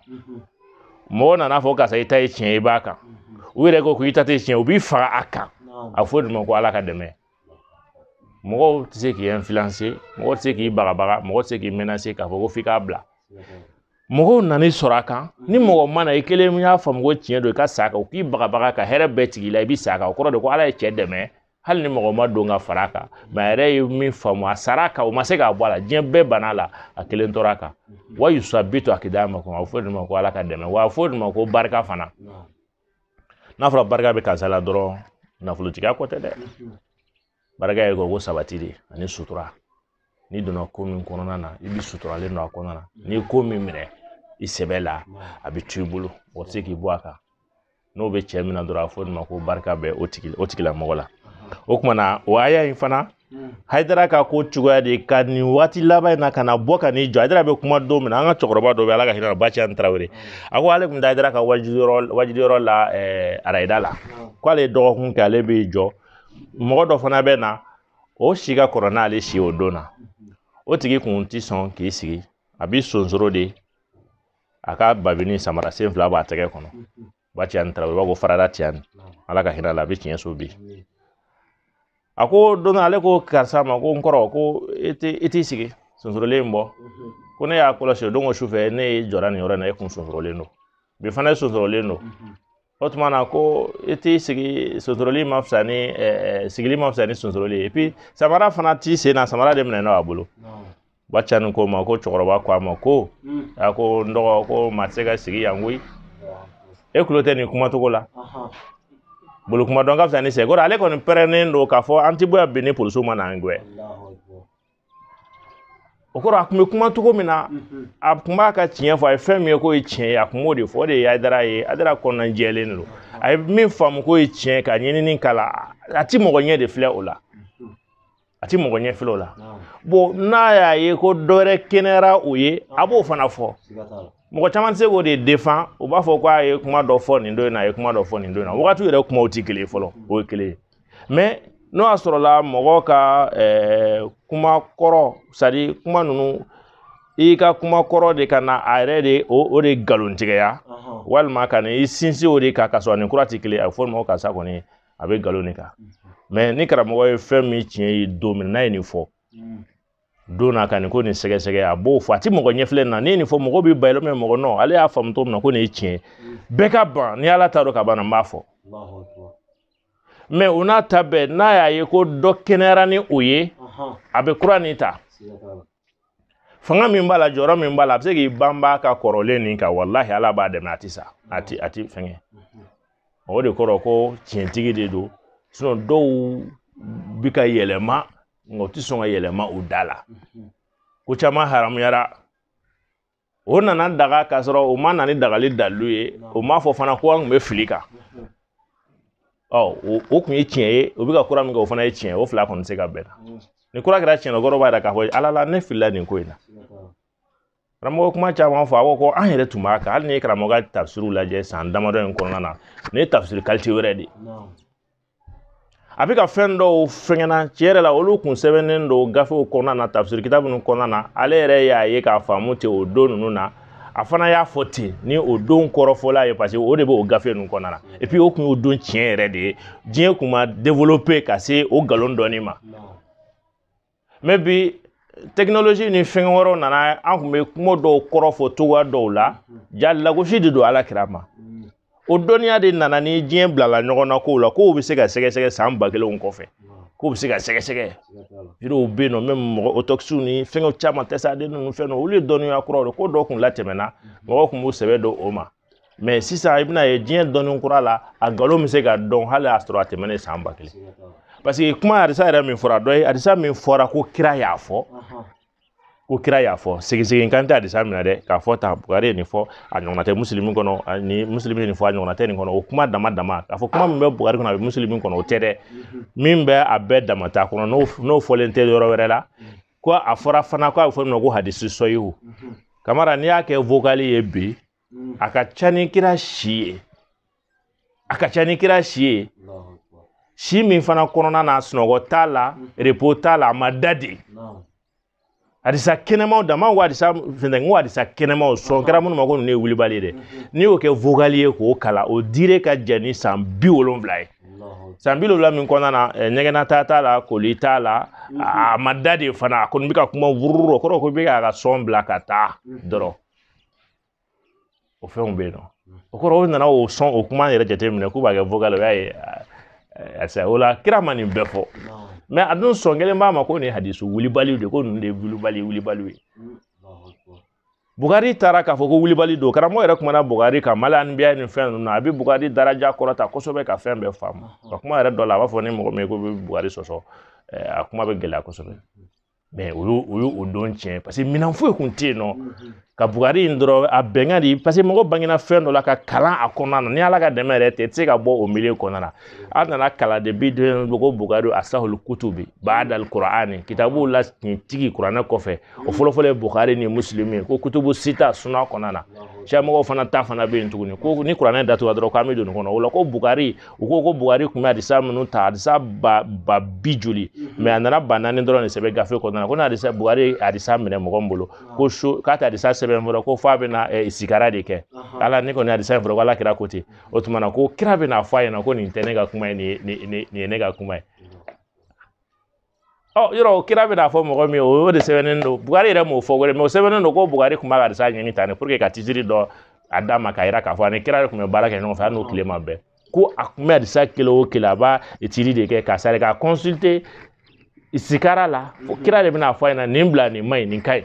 mɔgɔ nan'a fɔ karisa i ta ye tiɲɛ i b'a kan u yɛrɛ ko ko i ta tɛ tiɲɛ u b'i faga a kan a fɔ de ma ko ala ka dɛmɛ mɔgɔw tɛ se k'i influencer mɔgɔ tɛ se k'i bagabaga mɔgɔ tɛ se k'i menacer k'a fɔ ko f'i k'a bila mɔgɔw nan'i sɔrɔ a kan ni mɔgɔ ma na i kelen y'a faamu ko tiɲɛ don i ka sa a kan u k'i bagabaga ka hɛrɛ bɛɛ tigɛ i la i bɛ sa a kan o kɔrɔ de ko ala ye cɛ dɛmɛ hali ni mɔgɔ ma don ka fara a kan mais a yɛrɛ ye min faamu a sara a kan o ma se k'a bɔ a la diɲɛ bɛɛ banna a la a kelen tora a kan wa yusabbitu aqdamakum a bɛ fɔ de ma ko ala ka dɛmɛ wa a bɛ fɔ de ma ko barika fana n'a fɔra barika bɛ karisa la dɔrɔn nafolotigiya ko tɛ dɛ barika ye ko sabati de ani sutura n'i donna ko min kɔnɔna na i bɛ suturalen don a kɔnɔna na n'i ye ko min minɛ i sɛbɛ la a bɛ to i bolo o tɛ se k'i bɔ a kan n'o bɛ cɛ min na dɔrɔn a fɔ nin ma ko barika bɛ o tigi o tigilamɔgɔ la o kuma na o haya in fana hayidara ka ko cogoya de ka nin waati laban in na ka na bɔ ka n'i jɔ hayidara bɛ kuma don min na an ka cɛkɔrɔba dɔ bɛ ala ka hinɛ ba tijani tarawele a ko ale tun taa hayidara ka wajuliyɔrɔ la eh, arayida la ko ale ye dɔgɔkun kɛ ale bɛ jɔ mɔgɔ dɔ fana bɛ na o si ka kɔrɔ n'ale si o don na o tigi kun ti sɔn k'i sigi a b'i sonsoro de a ka babini samara sen fila b'a tɛgɛ kɔnɔ ba tijani tarawele b'a ko farada tijani ala ka hinɛ a la a bɛ tiɲɛ so bi a ko don ale ko karisa ma ko n kɔrɔ ko e tɛ e t'i sigi sonsorolen in bɔ ko ne y'a kɔlɔsi o don ko sufɛ ne ye jɔra nin yɔrɔ in na e kun sonsorolen don bi fana e sonsorolen don o tuma na ko i t'i sigi sonsoroli ma fisa ni sigili ma fisa ni sonsoroli ye samara fana t'i sen na samara de minɛ n'o a bolo ba ca ni ko ma ko cɛkɔrɔba ko a ma ko a ko n dɔgɔ ko maa tɛ se ka sigi yan koyi e tulo tɛ nin kumacogo la bolo kuma dɔn ka fisa ni sɛgɛkɔrɔ ale kɔni pɛrɛnnen don k'a fɔ an tɛ bɔ yan bi ni polisiw ma n'an gɛn o kɔrɔ a kun bɛ kuma cogo min na a kun b'a ka tiɲɛ fɔ a ye fɛn min ye k'o ye tiɲɛ ye a kun b'o de fɔ o de ye haidara ye haidara kɔnɔna jɛlen don a ye min faamu k'o ye tiɲɛ ka ɲinini k'a la a ti mɔgɔ ɲɛ de filɛ o la a ti mɔgɔ ɲɛ filɛ o la bon n'a y'a ye ko dɔ wɛrɛ kɛnɛyara o ye a b'o fana fɔ mɔgɔ caman tɛ se k'o de defan u b'a fɔ ko a ye kuma dɔ fɔ nin don in na a ye kuma dɔ fɔ nin don in na wagati yɛrɛ kumaw tɛ kelen ye fɔlɔ o ye kelen ye mɛ n'o y'a sɔrɔla mɔgɔ ka eh, kuma kɔrɔ sadi kuma ninnu i ka kuma kɔrɔ de ka na a yɛrɛ de o de nkalontigɛya walima ka na i sinsin o de kan ka sɔrɔ nin kura tɛ kelen a bɛ fɔ o ma ko karisa kɔni a bɛ nkalon de kan mɛ ni karamɔgɔ ye fɛn min tiɲɛ ye don min n'a ye nin fɔ don na ka nin ko nin sɛgɛsɛgɛ a b'o fɔ a tɛ mɔgɔ ɲɛ filɛ na ne ye nin fɔ mɔgɔ bɛ bayɛlɛ mɛ mɔgɔ nɔn ale y'a faamu cogo min na ko nin ye tiɲɛ bɛɛ ka ban ni ala t'a dɔn ka ban n b'a fɔ mɛ o n'a ta bɛɛ n'a y'a ye ko dɔ kɛnɛyara ni o ye a bɛ kura nin ta fanga min b'a la jɔyɔrɔ min b'a la a bɛ se k'i banba ka kɔrɔlen nin kan walahi ala b'a dɛmɛ a tɛ sa a tɛ a tɛ fɛngɛ o de kɔrɔ ko tiɲɛtigi de don sinɔn dɔw bi ka yɛlɛma nka u tɛ sɔn ka yɛlɛma u da la ko caman haramuyara o nana daga k'a sɔrɔ o ma na ni dagali dalilu ye o m'a fɔ fana ko an kun bɛ fili kan ɔ o kun ye tiɲɛ ye o bɛ ka kura min kɛ o fana ye tiɲɛ ye o fila kɔni tɛ se ka bɛn ni kura kɛra tiɲɛ kɔrɔ b'a yira k'a fɔ ala la ne filila nin ko in na karamɔgɔ kuma caman fɔ a ko ko an yɛrɛ tun b'a kan hali n'i ye karamɔgɔ ka tafsiriw lajɛ san damadɔ in kɔnɔna na ne ye tafsiri kalite wɛrɛ de ye a bɛ ka fɛn dɔw fɛngɛnna tiɲɛ yɛrɛ la olu kun sɛbɛnnen don gafew kɔnɔna na tafisiri kitabu ninnu kɔnɔna na ale yɛrɛ y'a ye k'a faamu ten o don ninnu na a fana y'a fɔ ten ni o don kɔrɔfɔla ye paseke o de bɛ o gafe ninnu kɔnɔna na epi o kun y'o don tiɲɛ yɛrɛ de ye diɲɛ kun ma develope ka se o nkalon dɔnni ma mɛ bi tekinoloji ni fɛn wɛrɛw nana an kun bɛ kuma dɔw kɔrɔ fɔ cogoya dɔw la ja lagosi de don ala kira ma o dɔnniya de nana ni diɲɛ bilala ɲɔgɔn na kow la kow bɛ se ka sɛgɛsɛgɛ san ba kelenw kɔfɛ kow bɛ se ka sɛgɛsɛgɛ yiriw bɛ yen nɔ mɛmu mɔgɔ otɔpisiw ni fɛngɛw caman test ADN ninnu fɛn ninnu olu ye dɔnniya kuraw de ko dɔw kun latɛmɛna mɔgɔw kun b'u sɛbɛ don o ma mɛ sisan i bɛna ye diɲɛ dɔnni kura la a nkalon bɛ se ka dɔn hali y'a sɔrɔ a tɛmɛnen san ba kelen parce que kuma hadisa yɛrɛ min fɔra dɔ ye hadisa min fɔra ko kira y'a fɔ ko kira y'a fɔ segisegin kan tɛ hadisa minɛ dɛ k'a fɔ tan bukari ye nin fɔ a ɲɔgɔnna tɛ musulumi kɔnɔ ni musulumi ye nin fɔ a ɲɔgɔnna tɛ nin kɔnɔ o kuma dama dama k'a fɔ kuma min bɛ bukari kɔnɔ a bɛ musulumi kɔnɔ o tɛ dɛ min bɛ a bɛɛ dama ta kɔnɔ n'o fɔlen tɛ yɔrɔ wɛrɛ la ko a fɔra fana ko a bɛ fɔ min ma ko hadisi sɔhihu kamara n'i y'a kɛ vokali ye bi a ka ca ni kira si ye a ka ca ni kira si ye si min fana kɔnɔna na sunɔgɔ t'a la repo t'a la a ma da de adisa kɛnɛmaw dama ko adisa fɛnɛ ko adisa kɛnɛmaw sɔn kɛra minnu ma ko ninnu ye wulibali ye dɛ n'i y'o kɛ vokali ye k'o kalan o dire ka jan ni san bi wolonwula ye san bi wolonwula min kɔnɔna na eh, ɲɛgɛnna taa t'a la koli t'a la mhm. a ma da de fana a kɔni bɛ ka kuma wururu o kɔrɔ ko bɛ k'a ka sɔn bila ka taa mhm. dɔrɔn o fɛnw bɛ yen nɔ mhm. o kɔrɔ o nana o sɔn o kuma yɛrɛ jateminɛ k'u b'a kɛ vocal o y'a ye ɛsike o la kira ma nin bɛɛ fɔ mɛ a dun sɔn kɛlen b'a ma ko nin hadisu wulibaliw de ko ninnu de ye wulibali wulibaliw ye bugari taara k'a fɔ ko wulibali don karamɔgɔ yɛrɛ kumana bugari kan mali anbiya ni fɛn ninnu a bɛ bugari daraja kɔrɔta kosɛbɛ ka fɛn bɛɛ faamu ka kuma yɛrɛ dɔ la a b'a fɔ ni mɔgɔ min ye ko bɛ bugari sɔsɔ a kuma bɛ gɛlɛya kosɛbɛ mɛ o y'o o y'o don tiɲɛ paseke minɛn foyi kun tɛ yen nɔ ka bugari in dɔrɔn a bɛnkan de paseke mɔgɔ bangena fɛn dɔ la ka kalan a kɔnɔna na ni ala ka dɛmɛ yɛrɛ tɛ i tɛ se ka bɔ o milieu kɔnɔna na a nana kalan de bi den ko bugari asahul kutubi ba'dal kur'ani kitabu la tigi kuranɛ kɔfɛ o fɔlɔfɔlɔ ye bukari ni muslim ye ko kutubu sita suna kɔnɔna na siya mɔgɔw fana ta fana bɛ yen tuguni ko ni kuranɛ datugula dɔrɔn k'an bɛ don nin kɔnɔ o la ko bukari u ko ko bukari tun bɛ adisa minnu ta adisa ba ba bi joli mɛ a nana ba naani dɔrɔn de sɛbɛn gafe kɔnɔna na ko n'adisa bukari adisa minɛ mɔgɔ min bolo ko so k'a tɛ adisa sɛbɛn fɔlɔ ko f'a bɛna ɛ sikara de kɛ ala ne kɔni adisa in fɔlɔ ko ala kira ko ten o tuma na ko kira bɛna fɔ a ɲɛna ko nin tɛ ne ka kuma ye nin ye nin ye ne ka kuma ye ɔ yɔrɔ o kira bɛna fɔ mɔgɔ min ye o y'o de sɛbɛnnen don bugari yɛrɛ m'o fɔ wɛrɛ mɛ o sɛbɛnnen don ko bugari kun b'a ka adisa ɲini tan ne pour que ka titiri dɔ a d'a ma k'a yira k'a fɔ ani kira de tun bɛ baara kɛ ɲɔgɔn fɛ hali n'o tile ma bɛn ko a kun bɛ adisa kelen o kelen a b'a tiri de kɛ k'a sari k'a consulter sikara la fo kira de bɛna fɔ a ɲɛna nin bila nin ma ɲi nin ka ɲi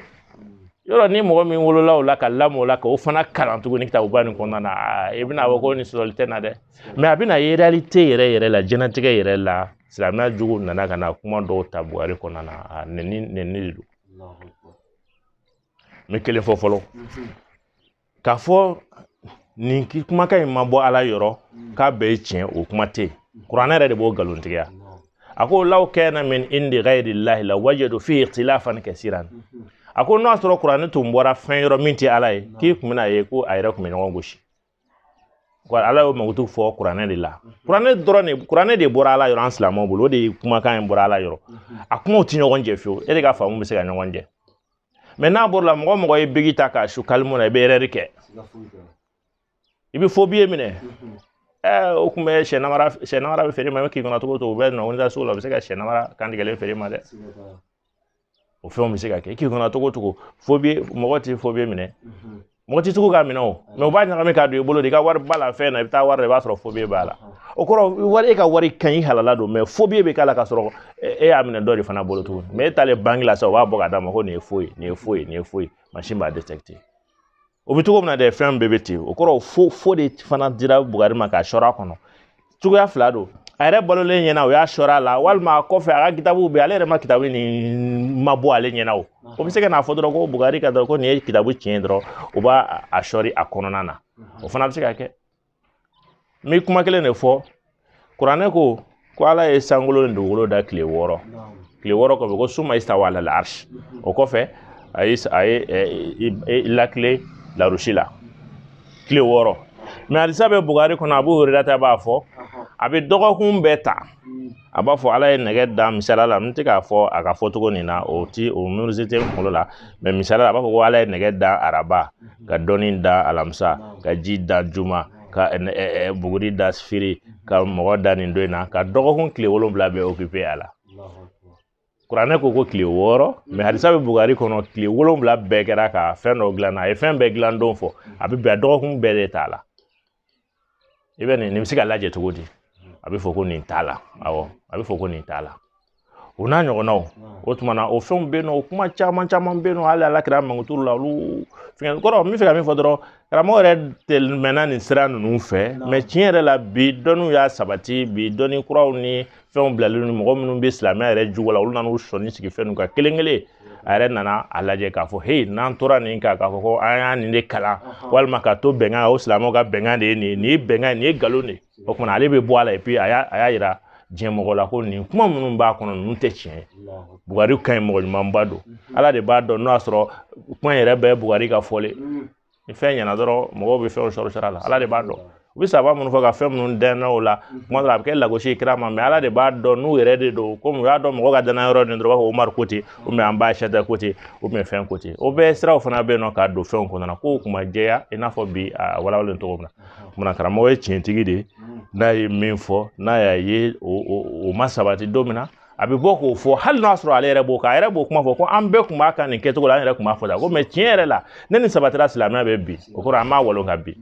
yɔrɔ ni mɔgɔ min wolola o la ka lamɔ o la k'o fana kalan tuguni kitabuba nin kɔnɔna na i bɛna fɔ ko nin sɔsɔli tɛ na dɛ mɛ a bɛna ye realite yɛrɛ yɛrɛ la jɛnatigɛ yɛrɛ la silamɛya jugu nana ka na kuma dɔw ta bugari kɔnɔna na a nɛni nɛni de don n bɛ kelen fɔ fɔlɔ k'a fɔ ni kumakan in ma bɔ ala yɔrɔ k'a bɛɛ ye tiɲɛ o kuma tɛ yen kuranɛ yɛrɛ de b'o nkalontigiya a ko law kana min indi ghayri llahi la wajadu fihi ikhtilafan kasiran a ko n'o y'a sɔrɔ kuranɛ tun bɔra fɛn yɔrɔ min tɛ ala ye k'i kun bɛna ye ko a yɛrɛ kun bɛ ɲɔgɔn gosi wa ala y'o mankutu fɔ kuranɛ de la kuranɛ dɔrɔn de kuranɛ de bɔra ala yɔrɔ an silamɛw bolo o de ye kumakan in bɔra ala yɔrɔ a kumaw tɛ ɲɔgɔn jɛ fiyewu e de ka faamu bɛ se ka ɲɔgɔn jɛ mɛ n'a bɔra la mɔgɔ mɔgɔ ye biki ta k'a su kalimu na i bɛ ɛrɛri kɛ i bɛ fo biye minɛ ɛɛ o tun bɛ sɛ namara sɛ namara bɛ feere i ma i bɛ k'i kɔnɔ cogo o cogo u bɛ nɔ wele sugu la u bɛ se ka sɛ namara kantigɛlen feere i ma dɛ o fɛnw bɛ se ka kɛ i k'i kɔnɔ cogo o cogo fobiye mɔgɔ tɛ fobiye minɛ mɔgɔ tɛ tugu k'a minɛ o mɛ u b'a ɲagami k'a don i bolo de i ka wari ba la fɛn na i bɛ taa wari la i b'a sɔrɔ fobiye b'a la o kɔrɔ wari e ka wari ka ɲi halala don mɛ fobiye b'a la k'a sɔrɔ e y'a minɛ dɔ de fana bolo tuguni mɛ e taalen banki la sa u b'a bɔ k'a d'a ma ko nin ye fo ye nin ye fo ye nin ye fo ye mansin b'a o bɛ cogo min na dɛ fɛn bɛɛ bɛ ten o kɔrɔ fo fo de fana dira bugari ma k'a sɔrɔ a kɔnɔ cogoya fila don a yɛrɛ balolen ɲɛna o y'a sɔrɔ a la walima a kɔfɛ a ka kitabuw bɛ ale yɛrɛ ma kitabu nin ma bɔ ale ɲɛna o o bɛ se ka n'a fɔ dɔrɔn ko bugari ka dɔrɔn ko nin ye kitabu tiɲɛ dɔrɔn o b'a a sɔri a kɔnɔna na o fana bɛ se ka kɛ n bɛ kuma kelen de fɔ kuranɛ ko ko ala ye sankolo ni dugukolo da tile wɔɔrɔ tile wɔɔrɔ kɔfɛ ko summa istawa alal arsh o kɔfɛ a ye a ye ɛ lakile larusi la tile wɔɔrɔ mɛ hadisa bɛ bugari kɔnɔ abu hurairata b'a fɔ a bɛ dɔgɔkun bɛɛ ta a b'a fɔ ala ye nɛgɛ da misaliya la n tɛ k'a fɔ a ka fɔ cogo nin na o ti o minisiri tɛ n kunkolo la mɛ misaliya a b'a fɔ ko ala ye nɛgɛ da araba ka dɔnni da alamisa ka ji da juma ka buguri da sibiri ka mɔgɔ da nin don in na ka dɔgɔkun tile wolonwula bɛɛ okipe a la kuranɛ ko ko tile wɔɔrɔ mɛ hadisa bɛ bugari kɔnɔ tile wolonwula bɛɛ kɛra ka fɛn dɔ dilan a ye fɛn bɛɛ dilan don fɔ a bɛ bɛn dɔgɔkun bɛɛ de t'a la i bɛ nin nin bɛ se ka lajɛ cogo di a bɛ fɔ ko nin t'a la awɔ a bɛ fɔ ko nin t'a la o n'a ɲɔgɔnnaw o tuma na o fɛnw bɛ yen nɔ o kuma caman caman bɛ yen nɔ hali ala kira mankuturu la olu fɛn kɔrɔ n b'a fɛ ka min fɔ dɔrɔn karamɔgɔ yɛrɛ tɛmɛna nin sira ninnu fɛ mɛ tiɲɛ yɛrɛ la bi dɔnniw y'a sabati bi dɔnni kuraw ni fɛnw bilalen don mɔgɔ minnu bɛ silamɛya yɛrɛ jugu la olu nan'u sɔnni sigi fɛn ninnu kan kelen kelen a yɛrɛ nana a lajɛ k'a fɔ heyi n'an tora nin kan k'a fɔ ko an y'a nin de kalan walima ka to bɛnkan o silamɛw ka bɛnkan de ye nin ye nin ye bɛnkan ye nin ye nkalon de ye o kuma na ale bɛ bɔ a la epi a y'a a y'a yira diɲɛ mɔgɔ la ko nin kuma minnu b'a kɔnɔ ninnu tɛ tiɲɛ ye bugari ka ɲi mɔgɔ ɲumanba don ala de b'a dɔn n'o y'a sɔrɔ kuma in yɛrɛ bɛɛ ye bugari ka fɔlen ni fɛn ɲɛna dɔrɔn mɔgɔw bɛ fɛnw sɔrɔ sira la ala de b'a dɔn u bɛ sahaba minnu fɔ ka fɛn minnu dɛnna o la kuma dɔ la a bɛ kɛ lagosi ye kira ma mɛ ala de b'a dɔn n'u yɛrɛ de don komi u y'a dɔn mɔgɔ ka dannaya yɔrɔ nin dɔrɔn u b'a fɔ umaru ko ten ubiyɛn an ba ayisata ko ten ubiyɛn fɛn ko ten o bɛɛ siraw fana bɛ yen nɔ k'a don fɛnw kɔnɔna kow kun ma jɛya i n'a fɔ bi a walawalen cogo min na kuma na karamɔgɔ ye tiɲɛtigi de ye n'a ye min fɔ n'a y'a ye o ma sabati don min na a bɛ bɔ k'o fɔ hali n'a sɔrɔ ale yɛrɛ b'o kan a yɛrɛ b'o kuma fɔ ko an bɛɛ kun b'a kan nin kɛcogo la an yɛrɛ kun b'a fɔ tan ko mɛ tiɲɛ yɛrɛ la ne ni sabatira silamɛya bɛ bi o kɔrɔ an b'a walo ka bi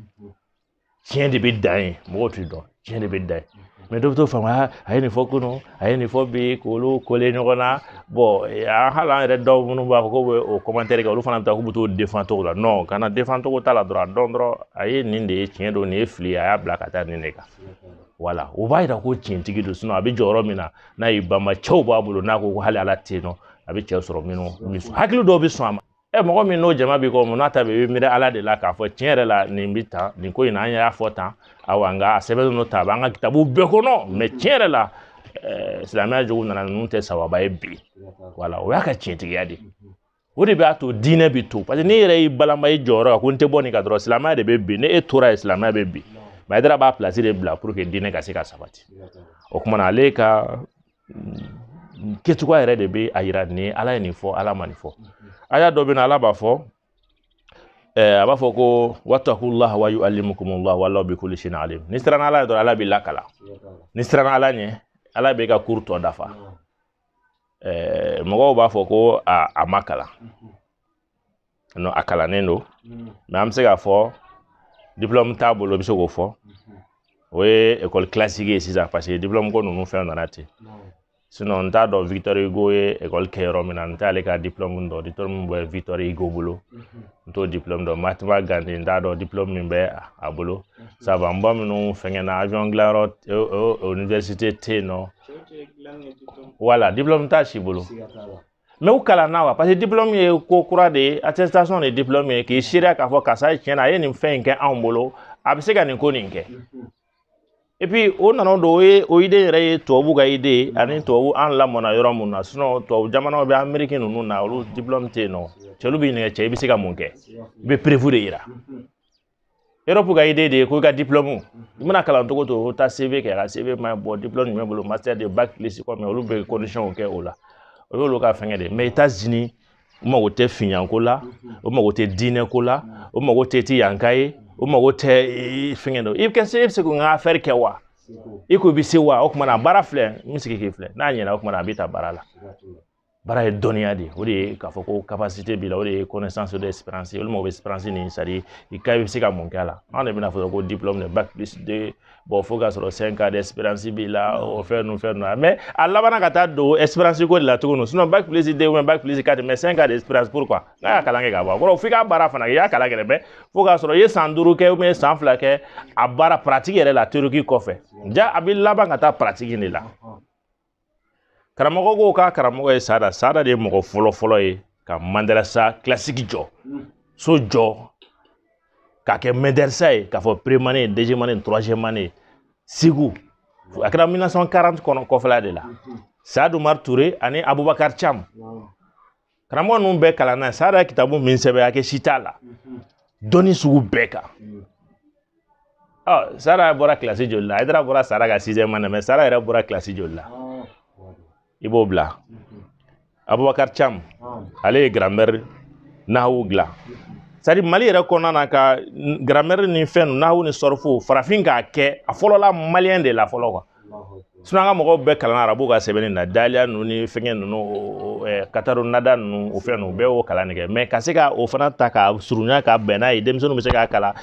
tiɲɛ de bɛ dan ye mɔgɔw t'i dɔn tiɲɛ de bɛ dan ye mɛ dɔ bɛ t'o faamu a ye nin fɔ kunun a ye nin fɔ bi k'olu kole ɲɔgɔn na bɔn an hali an yɛrɛ dɔw minnu b'a fɔ k'u bɛ o kɔmantɛri kɛ olu fana bɛ taa k'u bɛ t'o defan cogo la nɔn kana defan cogo t'a la dɔrɔn a dɔn dɔrɔn a ye nin de ye tiɲɛ don nin ye fili ye a y'a bila ka taa nin de kan wala o b'a yira ko tiɲɛtigi don sinɔn a bɛ jɔyɔrɔ min na n'a y'i banba cɛw b'a bolo n'a ko ko hali ala tɛ yen nɔ a bɛ cɛ sɔrɔ minnu hakili dɔw bɛ sɔn a ma ɛ mɔgɔ min n'o jama b'i kɔ mun n'a ta bɛ i bɛ miiri ala de la k'a fɔ tiɲɛ yɛrɛ la nin bɛ tan nin ko in na an y'a fɔ tan awa nka a sɛbɛnnen don tan a b'an ka kitabu bɛɛ kɔnɔ mɛ tiɲɛ yɛrɛ la silamɛya jogo nana ninnu tɛ sababu ye bi wala o y'a ka tiɲɛtigiya de ye o de b'a to diinɛ bɛ to parce que n'i yɛrɛ y'i balama i jɔyɔrɔ kan ko n tɛ bɔ nin kan dɔrɔn silamɛya de bɛ bin ni e tora yen silamɛya bɛ bin mɛ haidara b'a pilasi de bila pour que diinɛ ka se ka sabati o tuma na ale ka mm, kɛcogoya yɛrɛ de bɛ a yira ni ala ye nin fɔ ala ma nin fɔ aya dɔ bɛ na ala b'a fɔ a b'a fɔ ko watakullaha wa yuallimukumullah wallahu bi kulli shay'in alim n'i siranna ala ɲɛ dɔrɔn ala b'i lakalan n'i siranna ala ɲɛ ala b'i ka kuru tɔ dafa ɛɛ mɔgɔw b'a fɔ ko a a ma kalan nɔ a kalannen don mɛ an bɛ se k'a fɔ diplɔmu t'a bolo i bɛ se k'o fɔ o ye ekɔli kilasiki ye sisan paseke diplɔmu ko ninnu fɛn nana ten sinɔn n t'a dɔn victor hugo ye ekɔli kɛ yɔrɔ min na n t'ale ka diplɔmu dɔn diplɔmu min bɛ victor hugo bolo n t'o diplɔmu dɔn mahatma gandhi n t'a dɔn diplɔmu min bɛ a bolo mhm. savant ba minnu fɛngɛ na avion dilanyɔrɔ o université tɛ yen nɔ wala diplɔmu t'a si bolo mɛ u kalanna wa parce que diplɔmu ye ko kura de ye attestation de ye diplɔmu ye k'i seereya k'a fɔ karisa ye tiɲɛ na a ye nin fɛn in kɛ anw bolo a bɛ se ka nin ko nin kɛ mhm. epi o nana don o ye o ide yɛrɛ ye tubabu ka ide ye ani tubabu an lamɔna yɔrɔ min na sinɔn tubabu jamanaw bɛ ameriki ninnu na olu diplɔmu tɛ yen nɔ cɛlu b'i ɲininka cɛ i bɛ se ka mun kɛ i bɛ preuve de yira erɔpu ka ide de ye ko i ka diplɔmu i mana kalan cogo to o taa cv kɛ ka cv ma bɔ diplɔmu jumɛn bolo master de bac plus combien olu bɛ kondisiyɔnw kɛ o la o y'olu ka fɛngɛ de ye mɛ états-unis o mago tɛ finyako la o mago tɛ diinɛ ko la o mago tɛ ti yanka ye o mago tɛ fɛngɛ dɔ i bɛ kɛ se e bɛ se k'o ka afɛri kɛ wa i ko i bɛ se wa o tuma na baara filɛ n bɛ sigi k'i filɛ n'a ɲɛna o tuma na a b'i ta baara la baara ye dɔnniya de ye o de ye k'a fɔ ko capacité b'i la o de ye connaissance de expérience olu mago bɛ expérience nin c'est à dire i ka i bɛ se ka mun k'a la anw de bɛn'a fɔ ko diplôme de bac plus deux bɔn fo k'a sɔrɔ cinq ans d'expérience b'i la o fɛn nu fɛn nu na mɛ a labanna ka taa don expérience ko de la tuguni sinon bac plus deux ou bac plus quatre mɛ cinq ans d'expérience pourquoi n'a y'a kalan kɛ ka bɔ a kɔrɔ f'i ka baara fana kɛ i y'a kalan kɛ mɛ fo k'a sɔrɔ i ye san duuru kɛ ubiyɛn san fila kɛ a baara paratiki yɛrɛ la teoriki kɔfɛ ja a bɛ laban ka taa paratiki de la karamɔgɔ ko k'a karamɔgɔ ye sada sada de ye mɔgɔ fɔlɔ fɔlɔ ye ka mandarasa kilasiki jɔ so jɔ k'a kɛ mɛdɛrisa ye k'a fɔ première année deuxième année troisième année segu a kɛra 1940 kɔnɔ kɔfɛla de la saad umar ture ani abubakar cam karamɔgɔ ninnu bɛɛ kalan na sada ye kitabu min sɛbɛn hakɛ si t'a la dɔnni sugu bɛɛ kan ɔ sada bɔra kilasi joli la ayidara bɔra sada ka sixième année mɛ sada yɛrɛ bɔra kilasi joli la i b'o bila abubakar cam ale ye gramɛri nahawu dilan c'est-à-dire mali yɛrɛ kɔnɔna na ka gramɛri ni fɛn nahawu ni sɔrɔfu farafin k'a kɛ a fɔlɔla maliyɛn de la fɔlɔ quoi sinon an ka mɔgɔw bɛɛ kalan arabu ka sɛbɛnni na daliya ninnu ni fɛngɛ ninnu kataru nada ninnu o fɛn ninnu bɛɛ y'o kalan de kɛ mɛ ka se ka o fana ta ka surunya ka bɛn n'a ye denmisɛnninw bɛ se k'a kalan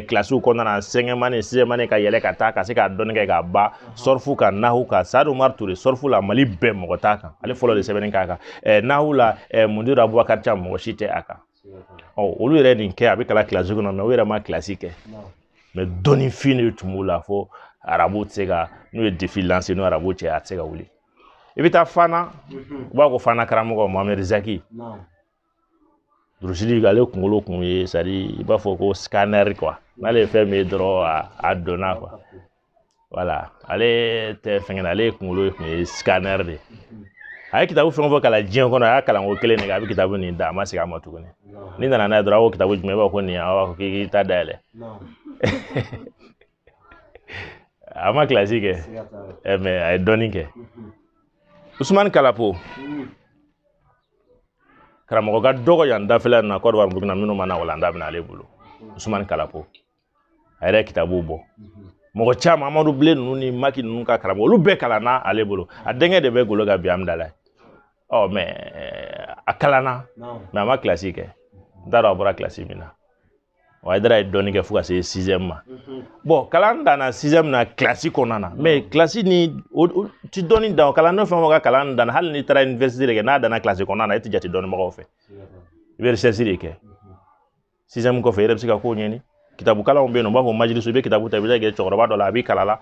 kilasiw kɔnɔna na cinquième année sixième année ka yɛlɛ ka taa ka se k'a dɔnni kɛ k'a ban sɔrifu kan nahu kan sadu umaru ture sɔrifu la mali bɛɛ mɔgɔ t'a kan ale fɔlɔ de sɛbɛnni k'a kan nahu la mundiru abubakari cam mɔgɔ si tɛ a kan ɔ olu yɛrɛ nin kɛ a bɛ kalan kilasi kɔnɔ mɛ u yɛrɛ ma kilasi kɛ mɛ dɔnnifin de tun b'u la fo arabu tɛ se ka n'u ye défi lancé n'o arabu cɛ a tɛ se ka wuli i bɛ taa fana mhm. u b'a ko fana karamɔgɔ mohamɛd zaki durusili ale kunkolo kun ye c'est-à-dire i b'a fɔ ko scanner quoi n'ale ye fɛn min ye dɔrɔn a donna quoi voilà ale tɛ fɛngɛ na ale ye kunkolo ye kun ye scanner de ye a ye kitabu fɛn o fɛn kalan diɲɛ kɔnɔ a y'a kalan ko kelen de kɛ a bɛ kitabu nin da a ma segin a ma tuguni n'i nana n'a ye dɔrɔn a ko kitabu jumɛn i b'a fɔ ko nin ye a b'a fɔ k'i t'a dayɛlɛ a ma kilasi kɛ mɛ a ye dɔnni kɛ usumani kalapo karamɔgɔ ka dɔgɔ yan dafɛla na côte d'ivoire burukina minnu ma na walanda bɛna ale bolo usumani kalapo a yɛrɛ ye kitabu bɔ mɔgɔ caman amadu bilen ninnu ni maki ninnu ka karamɔgɔ olu bɛɛ kalanna ale bolo a denkɛ de bɛ golo kan bi amidalayi ɔ mɛ a kalanna mɛ a ma kilasi kɛ n t'a dɔn a bɔra kilasi min na o ayidara ye dɔnni kɛ fo ka se sixième ma bon kalan danna sixième na kilasi kɔnɔna na mɛ kilasi ni o ti dɔnni dan o kalan n'o fɛn o fɛn ka kalan danna hali n'i taara université de kɛ n'a danna kilasi kɔnɔna na e ti jate dɔnnibagaw fɛ i bɛ recherche de kɛ sixième kɔfɛ i yɛrɛ bɛ se ka kow ɲɛɲini kitabu kalanw bɛ yen nɔ u b'a fɔ majilisu i bɛ kitabu ta i bɛ taa kɛ cɛkɔrɔba dɔ la a b'i kalan la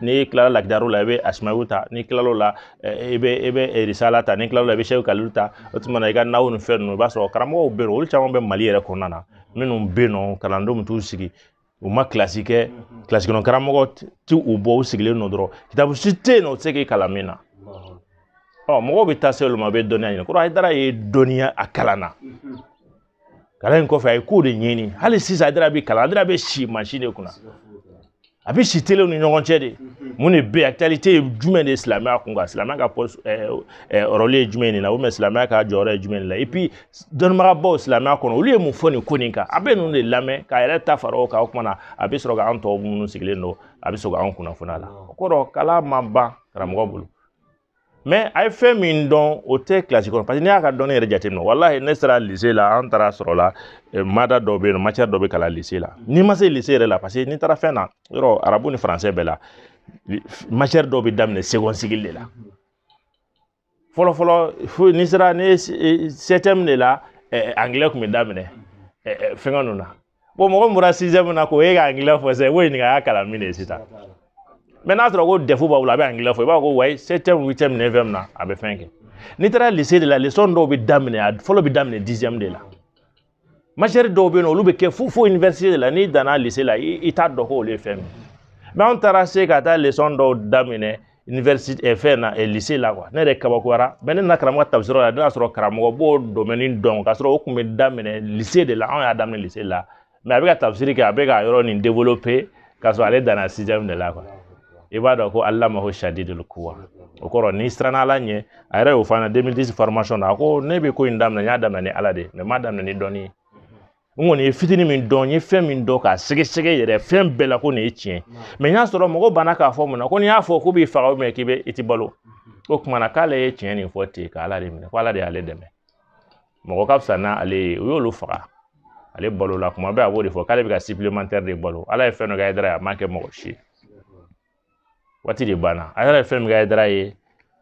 n'i kilala lakidari la i bɛ asimawi ta n'i kilal'o la i bɛ i bɛ risala ta n'i kilal'o la i bɛ sheikh kalilu ta o tuma na i ka nahu ni fɛn ninnu i b'a sɔrɔ karamɔgɔw bɛ yen olu caman bɛ mali yɛrɛ kɔnɔna na minnu bɛ yen nɔ kalandenw bɛ t'u sigi u ma kilasi kɛ kilasi kɔnɔ karamɔgɔ ti u bɔ u sigilen nɔ dɔrɔn kitabu si tɛ yen nɔ u tɛ se k'i kalan min na ɔ mɔgɔw bɛ taa se olu ma u bɛ dɔnniya ɲini kɔrɔ ayidara ye dɔnniya a kalan na kalan in kɔfɛ a ye ko de ɲɛɲini hali sisan ayidara bɛ kalan ayidara bɛ si mansin de kunna a bɛ si telew ni ɲɔgɔn cɛ de mun de bɛ yen actualité ye jumɛn de ye silamɛya kun kan silamɛya ka pɔsi ɛɛ ɛɛ rôle ye jumɛn de la ou bien silamɛya ka jɔyɔrɔ ye jumɛn de la et puis dɔnnibagabaw silamɛya kɔnɔ olu ye mun fɔ nin ko nin kan a bɛ ninnu de lamɛn k'a yɛrɛ ta fara o kan o kuma na a bɛ sɔrɔ ka an tɔw minnu sigilen don a bɛ sɔrɔ ka an kunnafoni a la o kɔrɔ kalan ma ban karamɔgɔ bolo mais a ye fɛn min dɔn o tɛ kilasi kɔnɔ parce que n'i y'a ka dɔnni yɛrɛ jateminɛ walahi ne sera lycée la an taara sɔrɔ la eh, mada dɔ bɛ yen nɔ matière dɔ bɛ kalan lycée la n'i ma se lycée yɛrɛ la parce que n'i taara fɛn na yɔrɔ arabu ni français bɛɛ la matière dɔ bɛ daminɛ seconde cycle de la fɔlɔfɔlɔ fo n'i sera ne septième de la anglais tun bɛ daminɛ fɛngɛ ninnu na bon mɔgɔ min bɔra sixième na k'o ye ka anglais fɔ sisan i b'o ɲininka a y'a kalan min de sisan mais n'a sɔrɔ ko DEF b'a bolo a bɛ anglais fɔ i b'a fɔ ko wayi septième huitième neuvième na a bɛ fɛn kɛ n'i taara lycée de la leçon dɔw bɛ daminɛ a fɔlɔ bɛ daminɛ dixième de la matière dɔw bɛ yen nɔ olu bɛ kɛ fo fo université de la n'i danna lycée la i t'a dɔn ko olu ye fɛn min ye mais anw taara se ka taa leçon dɔw daminɛ université eh, fɛn na eh, lycée la quoi ne yɛrɛ kabakoyara mais ne nana karamɔgɔ tafsiri yɔrɔ la ne y'a sɔrɔ karamɔgɔ b'o domaine dɔn k'a sɔrɔ o tun bɛ daminɛ lycée de la anw y'a daminɛ lycée la mais a bɛ ka tafsiri kɛ a bɛ ka yɔrɔ nin développer k'a sɔrɔ ale danna sixième de la quoi i b'a dɔn ko allamahu shadidul quwa o kɔrɔ n'i siranna ala ɲɛ a yɛrɛ y'o fɔ an na 2010 formation na a ko ne bɛ ko in daminɛ n y'a daminɛ ni ala de ye mais n m'a daminɛ ni dɔnni ye n kɔni ye fitini min dɔn n ye fɛn min dɔn k'a sɛgɛsɛgɛ yɛrɛ fɛn bɛɛ la ko nin ye tiɲɛ mais n y'a sɔrɔ mɔgɔ banna k'a fɔ mun na ko n'i y'a fɔ k'u b'i faga mais k'i bɛ i ti balo o kuma na k'ale ye tiɲɛ nin fɔ ten k'ala de minɛ ko ala de y'ale dɛmɛ mɔgɔ ka fisa n'ale ye u y'olu faga ale balola kuma bɛɛ a b'o de fɔ k'ale bɛ ka supplémentaire de balo ala ye fɛn dɔ kɛ hayidara ye a m'a kɛ mɔgɔ si ye waati de banna hayidara ye fɛn min kɛ hayidara ye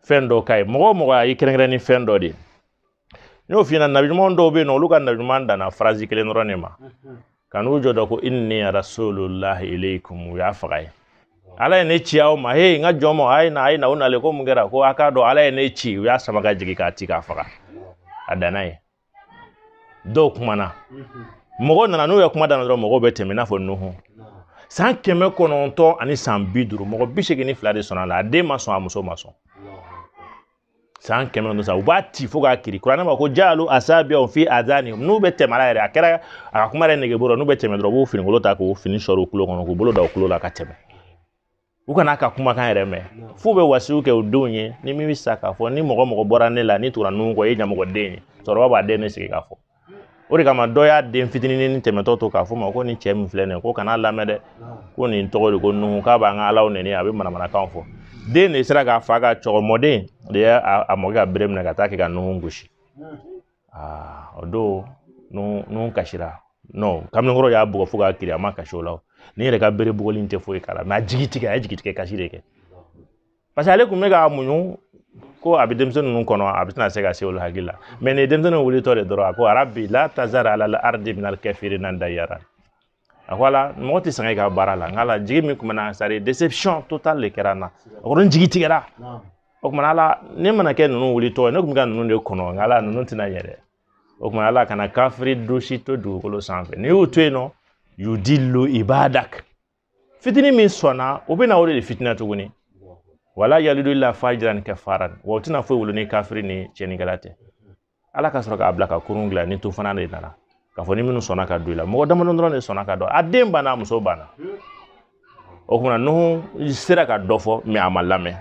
fɛn dɔ ka ye mɔgɔ o mɔgɔ a y'i kɛrɛnkɛrɛn ni fɛn dɔ de ye n y'o f'i ɲɛna nabiɲuman dɔw bɛ yen nɔ olu ka nabiɲuman danna phrase kelen dɔrɔn de ma ka n'u jɔ dɔ ko inni rasulullahi ilaykum u y'a faga yen ala ye ne ci aw ma he n ka jama a ye na a ye na u nalen ko mun kɛra ko a k'a dɔn ala ye ne ci u y'a sama ka jigin k'a ci k'a faga a danna yen dɔw kumana mɔgɔw nana n'u ye kuma daminɛ dɔrɔn mɔgɔw bɛ tɛmɛ i n'a fɔ nuhu san kɛmɛ kɔnɔntɔn ani san bi duuru mɔgɔ bi seegin ni fila de sɔnna a la a den ma sɔn a muso ma sɔn san kɛmɛ ni sa u b'a ci fo k'a kiri kuranɛ ma ko jaalu asabiyahum fi azanihim n'u bɛ tɛmɛ yɛrɛ a kɛra a ka kuma yɛrɛ nege bɔra n'u bɛ tɛmɛ dɔrɔn u b'u finikolon ta k'u fini sɔrɔ u kulo kɔnɔ k'u bolo da u kulo la ka tɛmɛ u kan'a ka kumakan yɛrɛ mɛn f'u bɛ wasiya kɛ u denw ye ni min bɛ sa k'a fɔ ni mɔgɔ mɔgɔ bɔra ne la n'i tugura nuhu kɔ e ye ɲamɔgɔden ye cɛkɔrɔba b'a den ne sigi k'a fɔ o de kama dɔ y'a den fitinin tɛmɛtɔ to k'a fɔ a ma ko nin cɛ min filɛ nin ye ko kan'a lamɛn dɛ ko nin tɔgɔ de ko nuhu k'a b'an ka alaw nɛni a bɛ manamanakan fɔ den de sera k'a fa ka cɛkɔrɔ mɔden de ye a mɔkɛ ka bere minɛ ka taa kɛ ka nuhu gosi aa o don nuhu kasira non kamalenkɔrɔ y'a bugɔ fo k'a kiri a ma kasi o la nin yɛrɛ ka bere bugɔli in tɛ foyi k'a la mais a jigi tigɛ a ye jigi tigɛ kasi de kɛ parce que ale kun bɛ ka muɲu ko a bɛ denmisɛn ninnu kɔnɔ a bɛ tɛna se ka se olu hakili la mais nin denmisɛnnin wulitɔ de dɔrɔn a ko rabi la tazara ala la ardi minal kafirina dayara a ko ala mɔgɔ tɛ sɛgɛn i ka baara la nka ala jigi min tun bɛ n na c'est déception totale de kɛra n na a ko n jigi tigɛra o tuma ala ne mana kɛ ninnu wulitɔ ye ne tun bɛ ka ninnu de kɔnɔ nka ala ninnu tɛna ɲɛ dɛ o tuma ala kana kafiri dosi to dugukolo sanfɛ n'i y'u to yen nɔ yudilu ibadak fitini min sɔnna o bɛna o de fitina tuguni wala yalidu ila fajiran kafaran wa o tɛna foyi wolo ni kafiri ni cɛnikɛla tɛ ala ka sɔrɔ k'a bila ka kurun dilan ni tufana de nana k'a fɔ ni minnu sɔnna ka don i la mɔgɔ damadɔ dɔrɔn de sɔnna ka don a den banna a muso banna o kuma na nuhu sera ka dɔ fɔ mais a ma lamɛn